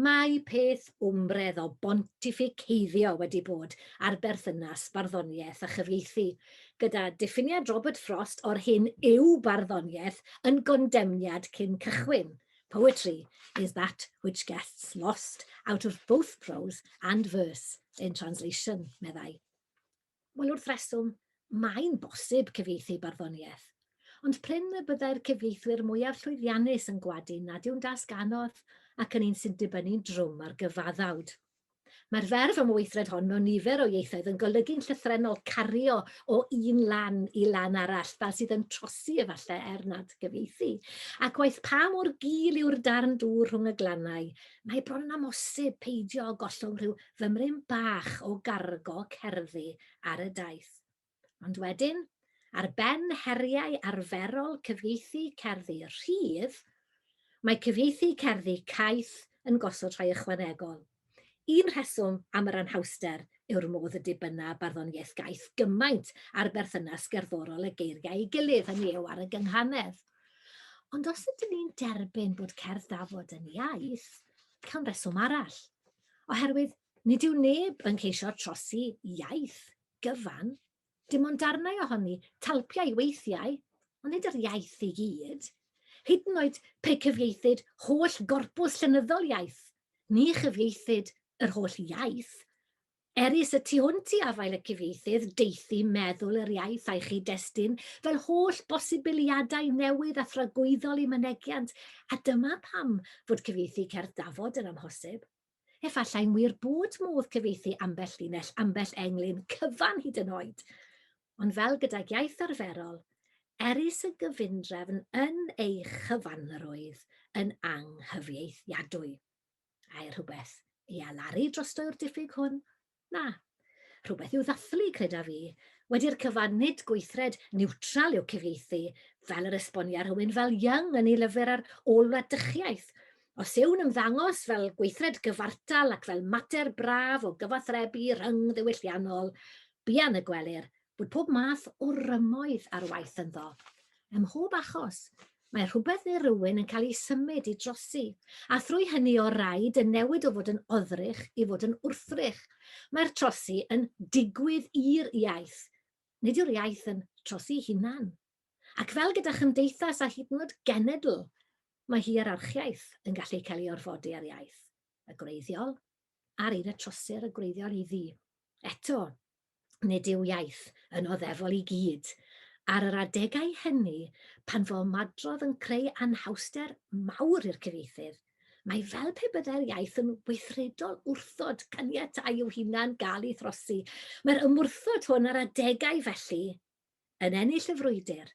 Mae peth wmbredd o bontificeiddio wedi bod ar berthynas barddoniaeth a chyfieithu, gyda diffiniad Robert Frost o'r hyn yw barddoniaeth yn gondemniad cyn cychwyn, Poetry is that which gets lost out of both prose and verse in translation, meddai. Wel, wrth reswm, mae'n bosib cyfieithu barddoniaeth. Ond prin y byddai'r cyfieithwyr mwyaf llwyddiannus yn gwadu nad yw'n dasg anodd ac yn un sy'n dibynnu'n drwm ar gyfaddawd. Mae'r ferf am y weithred hon mewn nifer o ieithoedd yn golygu'n llythrennol cario o un lan i lan arall, fel sydd yn trosi efallai er nad gyfieithu. Ac waeth pa mor gul yw'r darn dŵr rhwng y glannau, mae bron yn amhosib peidio â gollwng rhyw fymryn bach o gargo cerddi ar y daith. Ond wedyn, ar ben heriau arferol cyfieithu cerddi rhydd, mae cyfieithu cerddi caeth yn gosod rhai ychwanegol. Un rheswm am yr anhawster yw'r modd y dibynna barddoniaeth gaeth gymaint ar berthynas gerddorol y geiriau ei gilydd, hynny yw ar y gynghanedd. Ond os ydyn ni'n derbyn bod cerdd dafod yn iaith, cawn reswm arall. oherwydd nid yw neb yn ceisio trosi iaith gyfan, dim ond darnau ohoni, talpiau weithiau, ond nid yr iaith i gyd. Hyd yn oed pe cyfieithyd holl gorpws llenyddol iaith, ni chyfieithyd yr holl iaith, Eris y tu hwnt i afael y cyfieithydd, deithi meddwl yr iaith a'i chyd-destun fel holl bosibiliadau newydd a thragwyddol i mynegiant, a dyma pam fod cyfieithu cerdd Dafod yn amhosib. Efallai'n wir bod modd cyfieithu ambell linell, ambell englyn cyfan hyd yn oed. Ond fel gydag iaith arferol, erys y gyfundrefn yn ei chyfanrwydd yn anghyfieithiadwy. Ae rhywbeth i alaru drosto yw'r diffyg hwn, Na. Rhywbeth i'w ddathlu, creda fi. Wedi'r cyfan, nid gweithred niwtral yw cyfieithu, fel yr esbonia rhywun fel Young yn ei lyfr ar ôl-wladychiaeth. Os yw'n ymddangos fel gweithred gyfartal ac fel mater braf o gyfathrebu rhyng-ddiwylliannol, buan y gwelir Bod pob math o rymoedd ar waith ynddo. Ym mhob achos, mae rhywbeth neu rywun yn cael ei symud i drosi, a thrwy hynny o raid yn newid o fod yn oddrych i fod yn wrthrych. Mae'r trosi yn digwydd i'r iaith, nid yw'r iaith yn trosi'i hunan. Ac fel gyda chymdeithas a hyd yn oed genedl, mae hierarchiaeth yn gallu cael ei orfodi ar iaith y gwreiddiol a'r un y trosir y gwreiddiol iddi. Eto, Nid yw iaith yn oddefol i gyd. Ar yr adegau hynny, pan fo madrodd yn creu anhawster mawr i'r cyfieithydd, mae fel pe byddai'r iaith yn weithredol wrthod caniatáu i'w hunan gael ei throsi. Mae'r ymwrthod hwn a'r adegau felly yn ennill y frwydr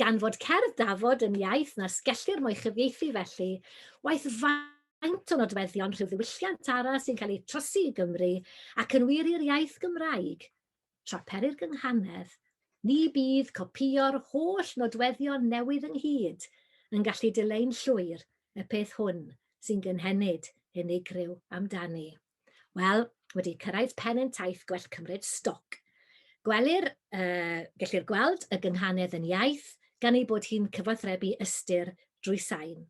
Gan fod cerdd dafod yn iaith nas gellir mo'i chyfieithu felly, waeth faint o nodweddion rhyw ddiwylliant arall sy'n cael eu trosi i Gymru ac yn wir i'r iaith Gymraeg, tra peri'r gynghanedd, ni bydd copïo'r holl nodweddion newydd ynghyd yn gallu dileu'n llwyr y peth hwn sy'n gynhenid unigryw amdani. Wel, wedi cyrraedd pen ein taith gwell cymryd stoc. Gwelir, uh, gellir gweld y gynghanedd yn iaith gan ei bod hi'n cyfathrebu ystyr drwy sain.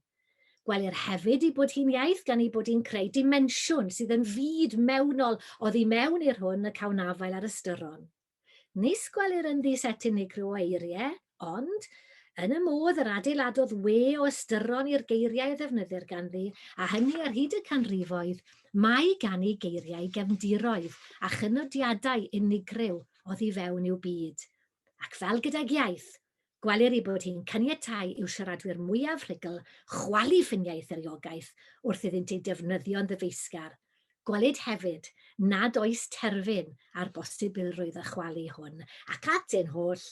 Gwelir hefyd i bod hi'n iaith gan ei bod hi'n creu dimensiwn sydd yn fyd mewnol oddi mewn i'r hwn y cawn afael ar ystyron. Nis gwelir ynddi set unigryw o eirie, ond, yn y modd yr adeiladodd we o ystyron i'r geiriau a ddefnyddir ganddi, a hynny ar hyd y canrifoedd, mae gan ei geiriau gefndiroedd a chynodiadau unigryw oddi fewn i'w byd. Ac fel gydag iaith, Gwelir ei bod hi'n caniatáu i'w siaradwyr mwyaf rhugl chwalu ffiniau eithriogaeth wrth iddynt ei defnyddio'n ddyfeisgar. Gwelid hefyd nad oes terfyn ar bosibilrwydd y chwalu hwn ac at ein holl,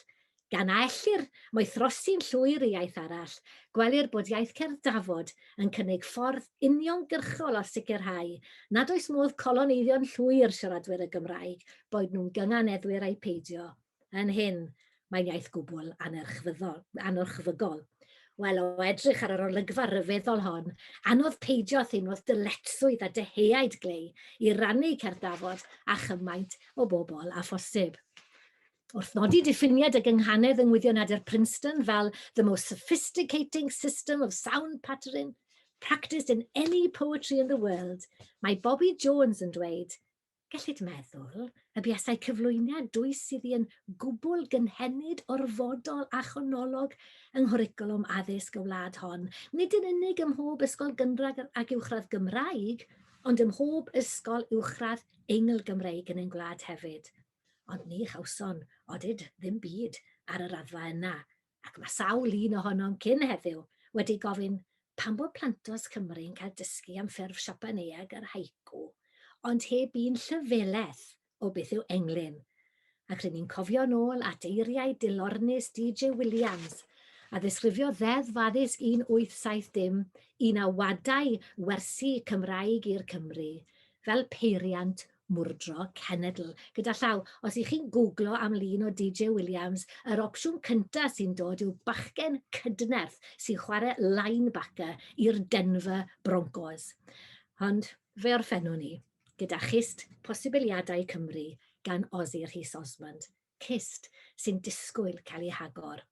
gan a ellir moethrosi'n llwyr i iaith arall, gwelir bod iaith cerdd Dafod yn cynnig ffordd uniongyrchol o sicrhau nad oes modd coloneiddio'n llwyr siaradwyr y Gymraeg, boed nhw'n gynganeddwyr ai peidio. yn hyn, mae'n iaith gwbl anerchfyddol, anorchfygol. Wel, o edrych ar yr olygfa ryfeddol hon, anodd peidio â theimlo dyletswydd a dyheaid glei i rannu cerddafod a chymaint o bobl a phosib. Wrth nodi diffiniad y gynghanedd yng Ngwyddion Adur Princeton fel the most sophisticating system of sound patterning practiced in any poetry in the world, mae Bobby Jones yn dweud, Gellid meddwl y buasai cyflwyniad dwys iddi yn gwbl gynhenid, orfodol a chonolog yng nghwricwlwm addysg y wlad hon, nid yn unig ym mhob ysgol gynradd ac uwchradd Gymraeg, ond ym mhob ysgol uwchradd Eingl-Gymreig yn ein gwlad hefyd. Ond ni chawson, odid, ddim byd ar y raddfa yna, ac mae sawl un ohonom cyn heddiw wedi gofyn pam bod plantos Cymru yn cael dysgu am ffurf Siapaneaeg yr haiku, ond heb un llyfelaeth o beth yw englyn, ac ry'n ni'n cofio'n ôl at eiriau dilornus DJ Williams, a ddisgrifiodd Ddeddf Addysg 1870 un a wadai wersi Cymraeg i'r Cymry fel peiriant Mwrdro cenedl gyda llaw. Os i chi'n gwglo am lun o DJ Williams, yr opsiwn cynta sy'n dod yw bachgen cydnerth sy'n chware linebacker i'r Denver Broncos. Ond fe orffennwn i gyda chyst posibiliadau Cymru gan Ozzy Rhys Osmond, cyst sy'n disgwyl cael ei hagor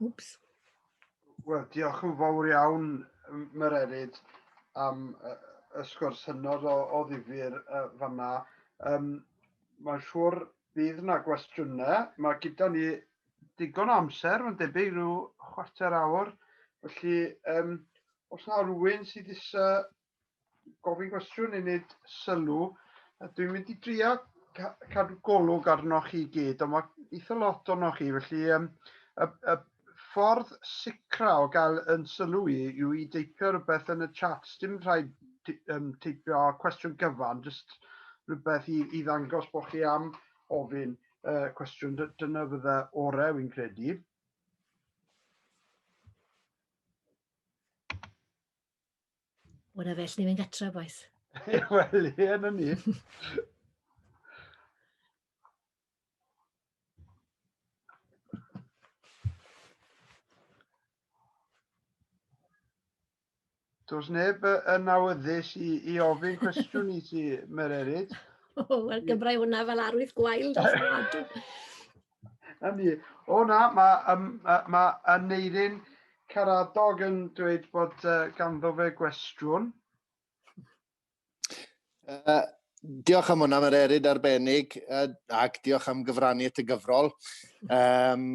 Wps. Wel, diolch yn fawr iawn, Mererid, am y sgwrs hynod o, o ddifur uh, fanna. Um, Mae'n siŵr bydd yna gwestiynau. Mae gyda ni digon o amser, mae'n debyg rhyw chwarter awr. Felly, um, os yna rhywun sydd eisiau gofyn cwestiwn i wneud sylw. Dwi'n mynd i drio cadw golwg arnoch chi gyd, ond mae eitha lot onoch chi, felly um, y, y ffordd sicra o gael yn sylw i yw i deipio rhywbeth yn y chat. Dim rhaid um, teipio cwestiwn gyfan, jyst rhywbeth i, i ddangos bod chi am ofyn uh, cwestiwn. Dyna fydda orau, wy'n credu. O, na fe, lle ni'n gatra, boes. Wel, ie, na ni. Does neb yn awyddus i, i ofyn cwestiwn i ti, Mererid. O, wel, gymrau hwnna fel arwydd gwael dros y Na ni. O na, mae, um, mae Aneirin Caradog yn dweud bod uh, ganddo fe gwestiwn. Uh, diolch am hwnna, mae'r eryd arbennig, uh, ac diolch am gyfrannu at y gyfrol. Um,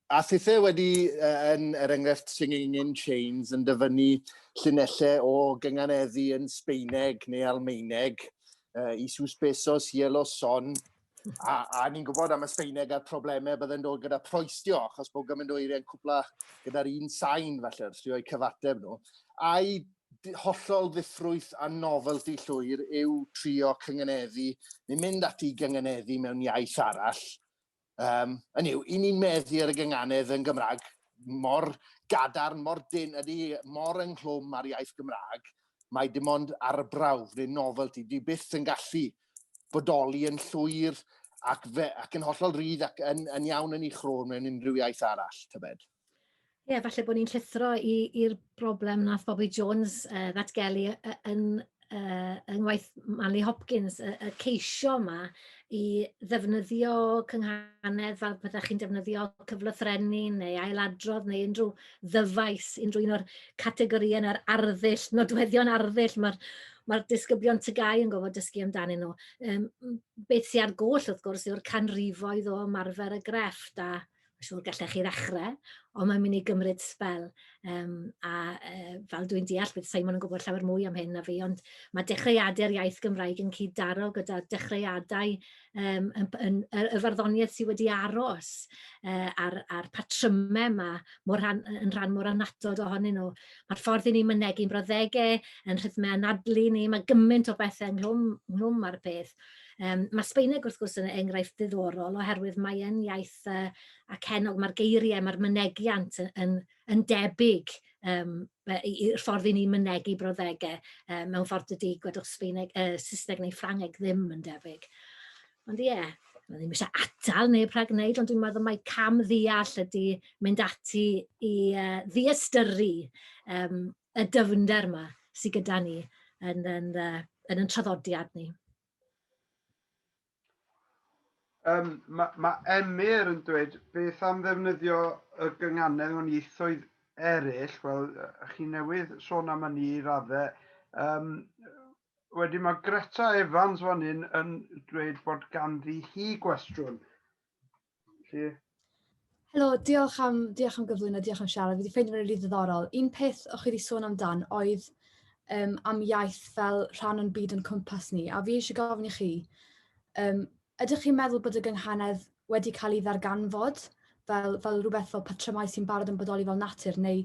A thithau wedi, yn er enghraifft Singing in Chains, yn dyfynnu llinellau o gynganeddu yn Sbeineg neu Almaeneg, uh, i sus besos, yellow son, a, a ni'n gwybod am y Sbeineg a'r problemau byddai'n dod gyda proestio, achos bod gymaint o eiriau'n cwpla gyda'r un sain, falle, wrth rio'i cyfateb nhw. A'i hollol ddifrwyth a novelty llwyr yw trio cynganeddu neu mynd ati i gynganeddu mewn iaith arall, Um, yn yw, i ni'n meddu ar y gynganedd yn Gymraeg mor gadarn, mor dyn, ydy mor ynghlwm ar iaith Gymraeg, mae dim ond arbrawf neu novelty. Dwi byth yn gallu bodoli yn llwyr ac, fe, ac yn hollol rydd ac yn, yn iawn yn ei chrôn mewn unrhyw iaith arall, tybed. Ie, falle bod ni'n llithro i'r broblem wnaeth Bobby Jones yy ddatgelu yy yy yn yy yng ngwaith Manley Hopkins, y y ceisio 'ma i ddefnyddio cynghanedd fel petai chi'n defnyddio cyfloffrenni neu ailadrodd neu unrhyw ddyfais, unrhyw un o'r categorïau neu'r arddull, nodweddion arddull mae'r mae'r disgyblion TGAU yn gorfod dysgu amdanyn nhw. Yym m- beth sy ar goll wrth gwrs yw'r canrifoedd o ymarfer y grefft a Mae'n siŵr gallech chi ddechrau, ond mae'n mynd i gymryd sbel. Um, a uh, fel dwi'n deall, bydd Simon yn gwybod llawer mwy am hyn na fi, ond mae dechreuadau'r iaith Gymraeg yn cyd-daro gyda dechreuadau um, yn, yn, yn, y farddoniaeth sydd wedi aros uh, a'r, ar patrymau yma mor rhan, yn rhan mor anatod ohonyn nhw. Mae'r ffordd i ni mynegu'n broddegau, yn rhythmau anadlu ni, mae gymaint o bethau ynghlwm, ynghlwm ar y peth, Um, mae Sbaeneg wrth gwrs yn enghraifft ddiddorol oherwydd mae e'n iaith uh, acennog, mae'r geiriau, mae'r mynegiant yn, yn, yn debyg um, i'r ffordd i ni mynegu brawddegau uh, mewn ffordd dydy gwedwch Sbaeneg, uh, Saesneg neu Ffrangeg ddim yn debyg. Ond ie, yeah, mae ddim eisiau atal neu rhag wneud, ond dwi'n meddwl mae cam ddeall ydy mynd ati i uh, ddiastyru um, y dyfnder yma sydd gyda ni yn, yn, uh, yn yn traddodiad ni. Um, mae ma Emyr yn dweud beth am ddefnyddio y gynganedd mewn ieithoedd eraill. Wel, chi newydd sôn am hynny i raddau. Um, wedyn mae Greta Evans fan hyn yn dweud bod ganddi hi gwestiwn. Felly, Helo, diolch am, diolch am gyflwyno, diolch am siarad. Fi wedi ffeindio fe'n rili ddiddorol. Un peth o chi wedi sôn amdan oedd um, am iaith fel rhan o'n byd yn cwmpas ni, a fi eisiau gofyn i chi, um, ydych chi'n meddwl bod y gynghanedd wedi cael ei ddarganfod fel, fel rhywbeth fel patrymau sy'n barod yn bodoli fel natur, neu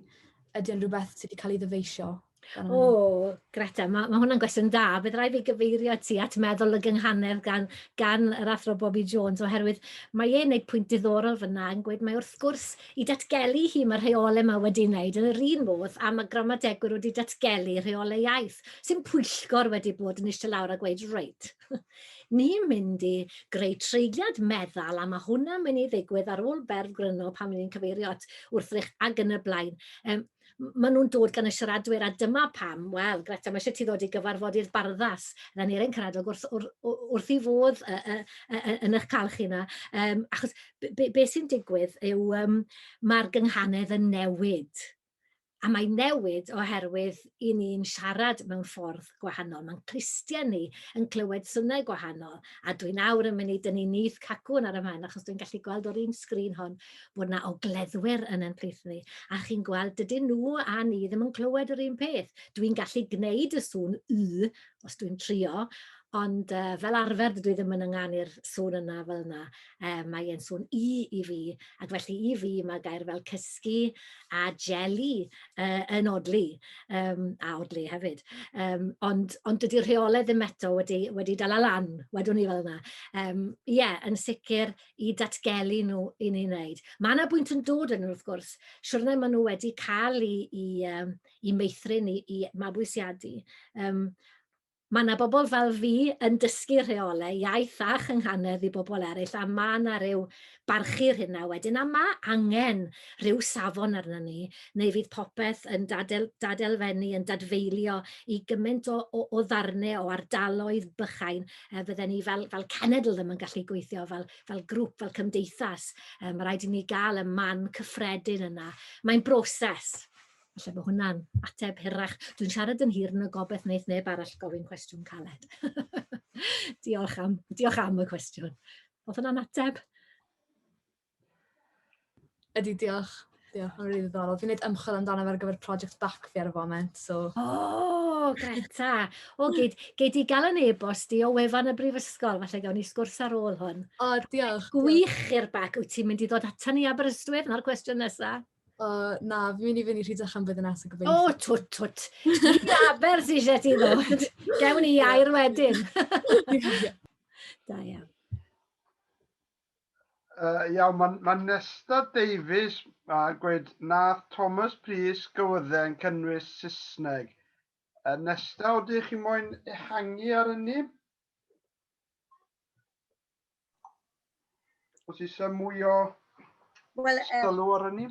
ydy o'n rhywbeth sydd wedi cael ei ddyfeisio? O, Greta, mae, mae hwnna'n gwestiwn da. Bydd rhaid fi gyfeirio ti at meddwl y gynghanedd gan, gan yr athro Bobby Jones, oherwydd mae e'n gwneud pwynt diddorol fyna yn gweud mae wrth gwrs i datgelu hi mae rheolau yma wedi wneud yn yr un modd a mae gramadegwyr wedi datgelu rheolau iaith sy'n pwyllgor wedi bod yn eistedd lawr a gweud reit ni'n mynd i greu treigliad meddal a mae hwnna'n mynd i ddigwydd ar ôl berf gryno pan ni'n cyfeirio at wrthrych ac yn y blaen. Um, maen nhw'n dod gan y siaradwyr, a dyma pam, wel, Greta, mae eisiau ti ddod i gyfarfod i'r barddas, na ni'r ein caradog wrth, wrth, wrth i fodd uh, uh, uh, yn eich cael chi yna. Um, achos be, be, be sy'n digwydd yw um, mae'r gynghanedd yn newid. A mae newid oherwydd i ni'n siarad mewn ffordd gwahanol. Mae'n clustiau ni yn clywed synnau gwahanol. A dwi'n awr yn mynd i dynnu nith cacwn ar y man, achos dwi'n gallu gweld o'r un sgrin hon bod yna ogleddwyr yn ein plith ni, a chi'n gweld, dydyn nhw a ni ddim yn clywed yr un peth. Dwi'n gallu gwneud y sŵn y, os dwi'n trio, ond uh, fel arfer dydw i ddim yn ynganu'r sŵn yna fel yna. Uh, mae e'n sŵn i i fi, ac felly i fi mae gair fel cysgu a jelly uh, yn odli, um, a odli hefyd. Um, ond, ond dydy rheolau ddim eto wedi, wedi dal lan, wedwn ni fel yna. Um, ie, yeah, yn sicr, i datgelu nhw i ni wneud. Mae yna bwynt yn dod yn wrth gwrs, siwrne maen nhw wedi cael i, i, um, i meithrin, i, i mabwysiadu. Um, mae yna bobl fel fi yn dysgu rheolau iaith a chynghanedd i bobl eraill, a mae yna rhyw barchu'r hynna wedyn, a mae angen rhyw safon arna ni, neu fydd popeth yn dadel, dadelfennu, yn dadfeilio i gymaint o, o, o ddarnau o ardaloedd bychain, yy fydden ni fel fel cenedl ddim yn gallu gweithio fel fel grŵp, fel cymdeithas. Yy ma' raid i ni gael y man cyffredin yna. Mae'n broses. Felly bod hwnna'n ateb hirach. Dwi'n siarad yn hir yn y gobeith wneud neb arall gofyn cwestiwn caled. diolch, am, diolch am y cwestiwn. Oedd hwnna'n ateb? Ydy, diolch. Diolch, mae'n rili ddiddorol. Fi'n gwneud ymchwil amdano fe ar gyfer project bac fi ar y foment, so... O, oh, Greta! O, oh, gei, gei di gael yn e-bost i o wefan y brifysgol, falle gawn ni sgwrs ar ôl hwn. O, oh, diolch. Gwych i'r bac, wyt ti'n mynd i ddod atan ni Aberystwyth? Yna'r cwestiwn nesaf. O, uh, na, fi'n mynd i fynd i Rhydach am bydd yn as y gobeithio. O, oh, twt, twt. Ni aber sy'n eisiau ti ddod. Gewn ni air wedyn. da iawn. Uh, iawn, mae ma Nesta Davies a uh, gweud nath Thomas Prys gywyddau yn cynnwys Saesneg. Uh, Nesta, o dych chi moyn ehangu ar hynny? Os eisiau mwy o well, um, sylw ar hynny?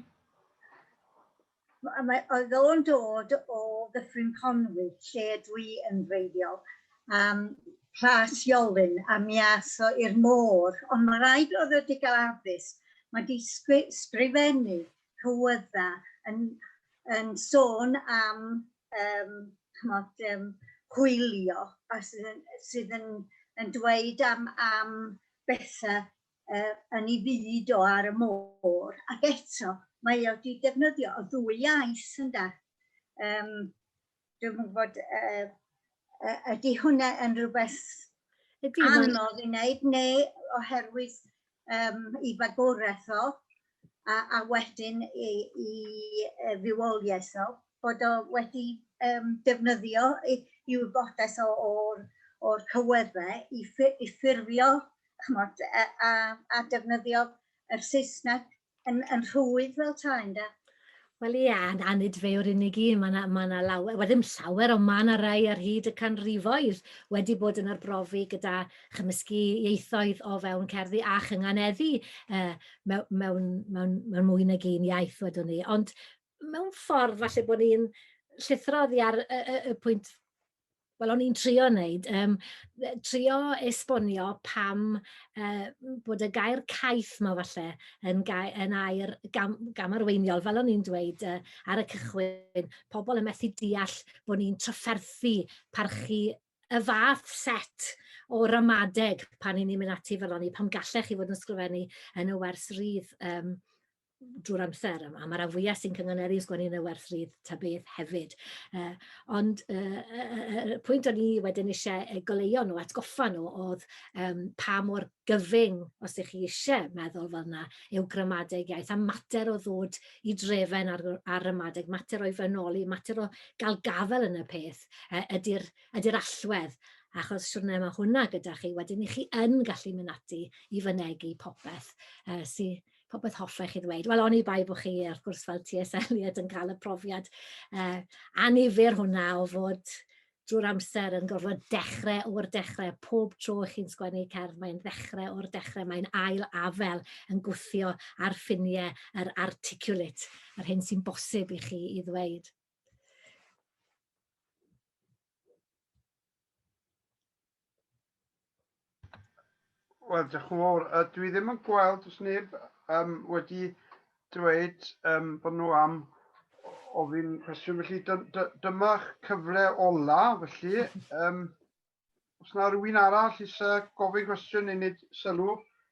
Mae, oedd o'n dod o Ddyffryn Conwy, lle dwi yn wreiddiol, um, Plas Iolyn, a mi ath o i'r môr, ond mae rhaid oedd o wedi cael addysg. Mae di sgrifennu cywydda yn, yn sôn am, um, chmod, um, hwylio, a sydd yn, sydd yn, yn dweud am, am bethau uh, yn ei fyd o ar y môr, ac eto mae o wedi defnyddio o ddwy iaith, ynda. Um, dwi'n gwybod, uh, uh, ydy hwnna yn rhywbeth anodd i wneud, neu oherwydd um, i fagwraeth o, a, a wedyn i, i uh, fywoliaeth nhw, bod o wedi um, defnyddio i, i wybodaeth o'r or cyweddau i, ffur, i ffurfio chmod, a, a, a defnyddio yr Saesneg yn, yn rhwydd fel tai, ynda? Wel ie, a na, nid fe yw'r unig un, mae yna ma lawer, wel ddim llawer, ond mae yna rai ar hyd y canrifoedd wedi bod yn arbrofi gyda chymysgu ieithoedd o fewn cerddi a chynganeddu uh, mewn, mewn, mewn, mewn mwy nag un iaith, wedwn ni. Ond mewn ffordd, falle bod ni'n llithrodd i ar y, y, y pwynt Wel, o'n i'n trio wneud, yym, yy trio esbonio pam yy m- bod y gair caeth 'ma falle yn gai- yn air gam- gamarweiniol, fel o'n i'n dweud yy ar y cychwyn, pobl yn methu deall bo' ni'n trafferthu parchu y fath set o ramadeg pan 'yn ni'n mynd ati fel 'ony, pam gallech chi fod yn sgrifennu yn y wers rydd? Yym. drwy'r amser, a mae'r rhan fwyaf sy'n cynganeddu yn sgwennu yn y werth rydd ta beth hefyd. Uh, ond y uh, uh, uh, pwynt o'n i wedyn eisiau goleuo nhw, atgoffa nhw, oedd um, pa mor gyfyng, os ydych chi eisiau meddwl fel yna, yw gramadeg iaith, a mater o ddod i drefen ar, ar ramadeg, mater o'i frenoli, mater o gael gafel yn y peth, uh, ydy'r ydy allwedd achos siwrne mae hwnna gyda chi, wedyn i chi yn gallu mynd ati i fynegu popeth uh, sy'n popeth hoffech chi ddweud. Wel, oni bai bod chi, wrth gwrs, fel T.S. Eliot yn cael y profiad uh, anifyr hwnna o fod drwy'r amser yn gorfod dechrau o'r dechrau. Pob tro chi'n sgwennu cerdd, mae'n ddechrau o'r dechrau, mae'n ail afel yn gwthio ar ffiniau yr articulate, yr hyn sy'n bosib i chi i ddweud. Wel, diolch yn fawr. Uh, dwi ddim yn gweld os neb um, wedi dweud um, bod nhw am ofyn cwestiwn. Felly dy, dy, dyma'ch cyfle ola, felly. Um, os na rhywun arall eisiau gofyn cwestiwn i wneud sylw,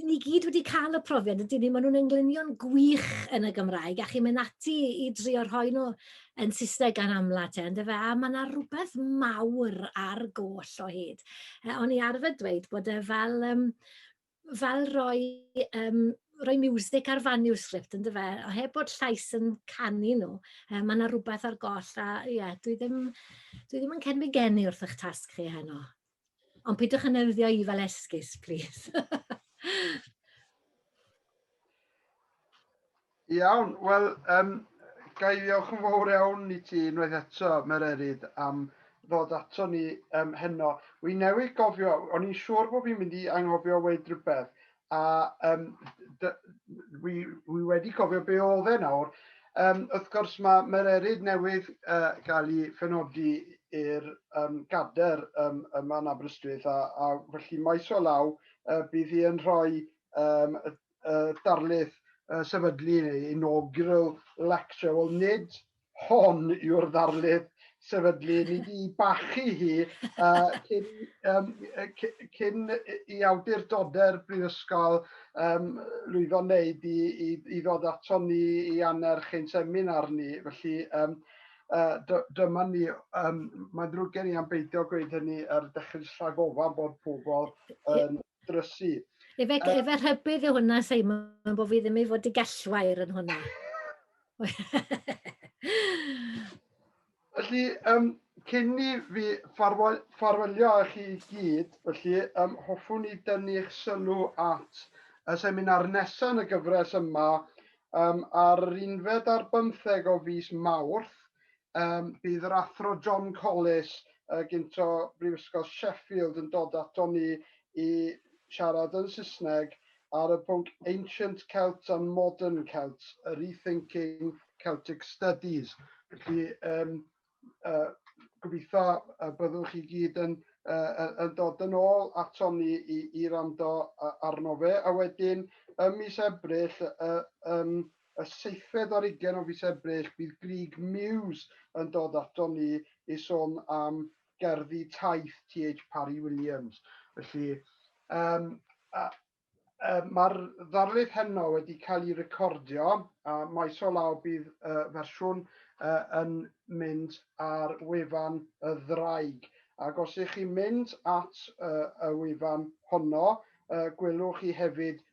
i ni gyd wedi cael y profiad, ydyn ni, maen nhw'n englunion gwych yn y Gymraeg, a chi'n mynd ati i drio rhoi nhw yn Saesneg gan amla te, ynddo fe, a mae yna rhywbeth mawr ar goll o hyd. E, o'n i arfer dweud bod e fel, um, fel roi, um, roi music ar manuscript, ynddo fe, o heb bod llais yn canu nhw, e, mae yna rhywbeth ar goll, a ie, yeah, dwi, ddim, dwi ddim yn cyn fy geni wrth eich tasg chi heno. Ond pidwch yn newyddio i fel esgus, plîs. Iawn, wel, um, ga i ddiolch yn fawr iawn i ti unwaith eto, Mererid, am ddod ato ni um, heno. Wy newydd gofio, o'n i'n siŵr bod fi'n mynd i anghofio weid rhywbeth, A um, wi, wi wedi cofio be oedd e nawr. Um, wrth gwrs mae mae'r eryd newydd uh, gael ei phenodi i'r um, gader um, yma yn Aberystwyth a, a felly maes o law uh, bydd hi yn rhoi um, y, y darlith uh, sefydlu neu inaugural lecture. Wel, nid Hon yw'r ddarlith sefydlu ni di bachu hi uh, cyn, um, cyn i awdurdodau'r brifysgol um, lwyddo wneud i, i, i ddod ato ni i annerch ein seminar ni. Felly um, uh, dyma ni, um, mae'n ddrwg gen i am beidio gweud hynny ar dechrau'r slag ofan bod pobl yn drysu. Efe, uh, efe rhybydd yw hwnna, Simon, bod fi ddim i fod i gellwair yn hwnna. felly, um, cyn ni fi ffarwelio â chi gyd, felly, um, hoffwn i dynnu eich sylw at y seminar nesaf yn y gyfres yma um, ar yr unfed ar bymtheg o fus Mawrth. Um, bydd yr athro John Collis uh, gynto Brifysgol Sheffield yn dod ato ni i siarad yn Saesneg ar y pwnc Ancient Celts and Modern Celts, a Rethinking Celtic Studies. Felly, um, uh, gobeithio y byddwch chi gyd yn, uh, yn dod yn ôl atom ni i, i rando arno fe. A wedyn, ym mis Ebrill, uh, um, y seithfed ar ugen o fis Ebrill, bydd Grig Muse yn dod atom ni i sôn am gerddi taith TH Parry Williams. Felly, um, a, uh, mae'r ddarlith heno wedi cael ei recordio a maes o law bydd uh, fersiwn uh, yn mynd ar wefan y ddraig. Ac os ych chi'n mynd at uh, y wefan honno, uh, gwelwch chi hefyd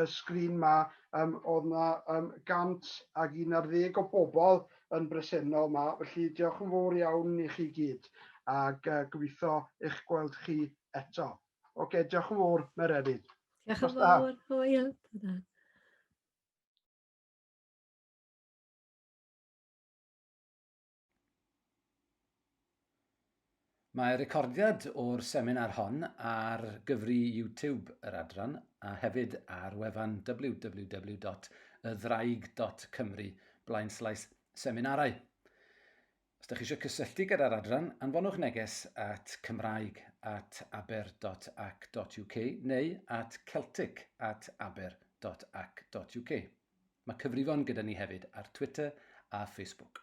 y sgrin 'ma yym o'dd 'na yym 100 ag un ar ddeg o bobl yn bresennol 'ma, felly diolch yn fowr iawn i chi gyd, ag yy gobeithio eich gweld chi eto. Ocê, diolch yn fowr, Mererid. Diolch yn fowr, hwyl. Ta-ra. Mae recordiad o'r seminar hon ar gyfri YouTube yr adran a hefyd ar wefan www.ydddraig.cymru blaenslaes seminarau. Os ydych chi eisiau cysylltu gyda'r adran, anfonwch neges at cymraeg at aber.ac.uk neu at celtic at aber.ac.uk. Mae cyfrifon gyda ni hefyd ar Twitter a Facebook.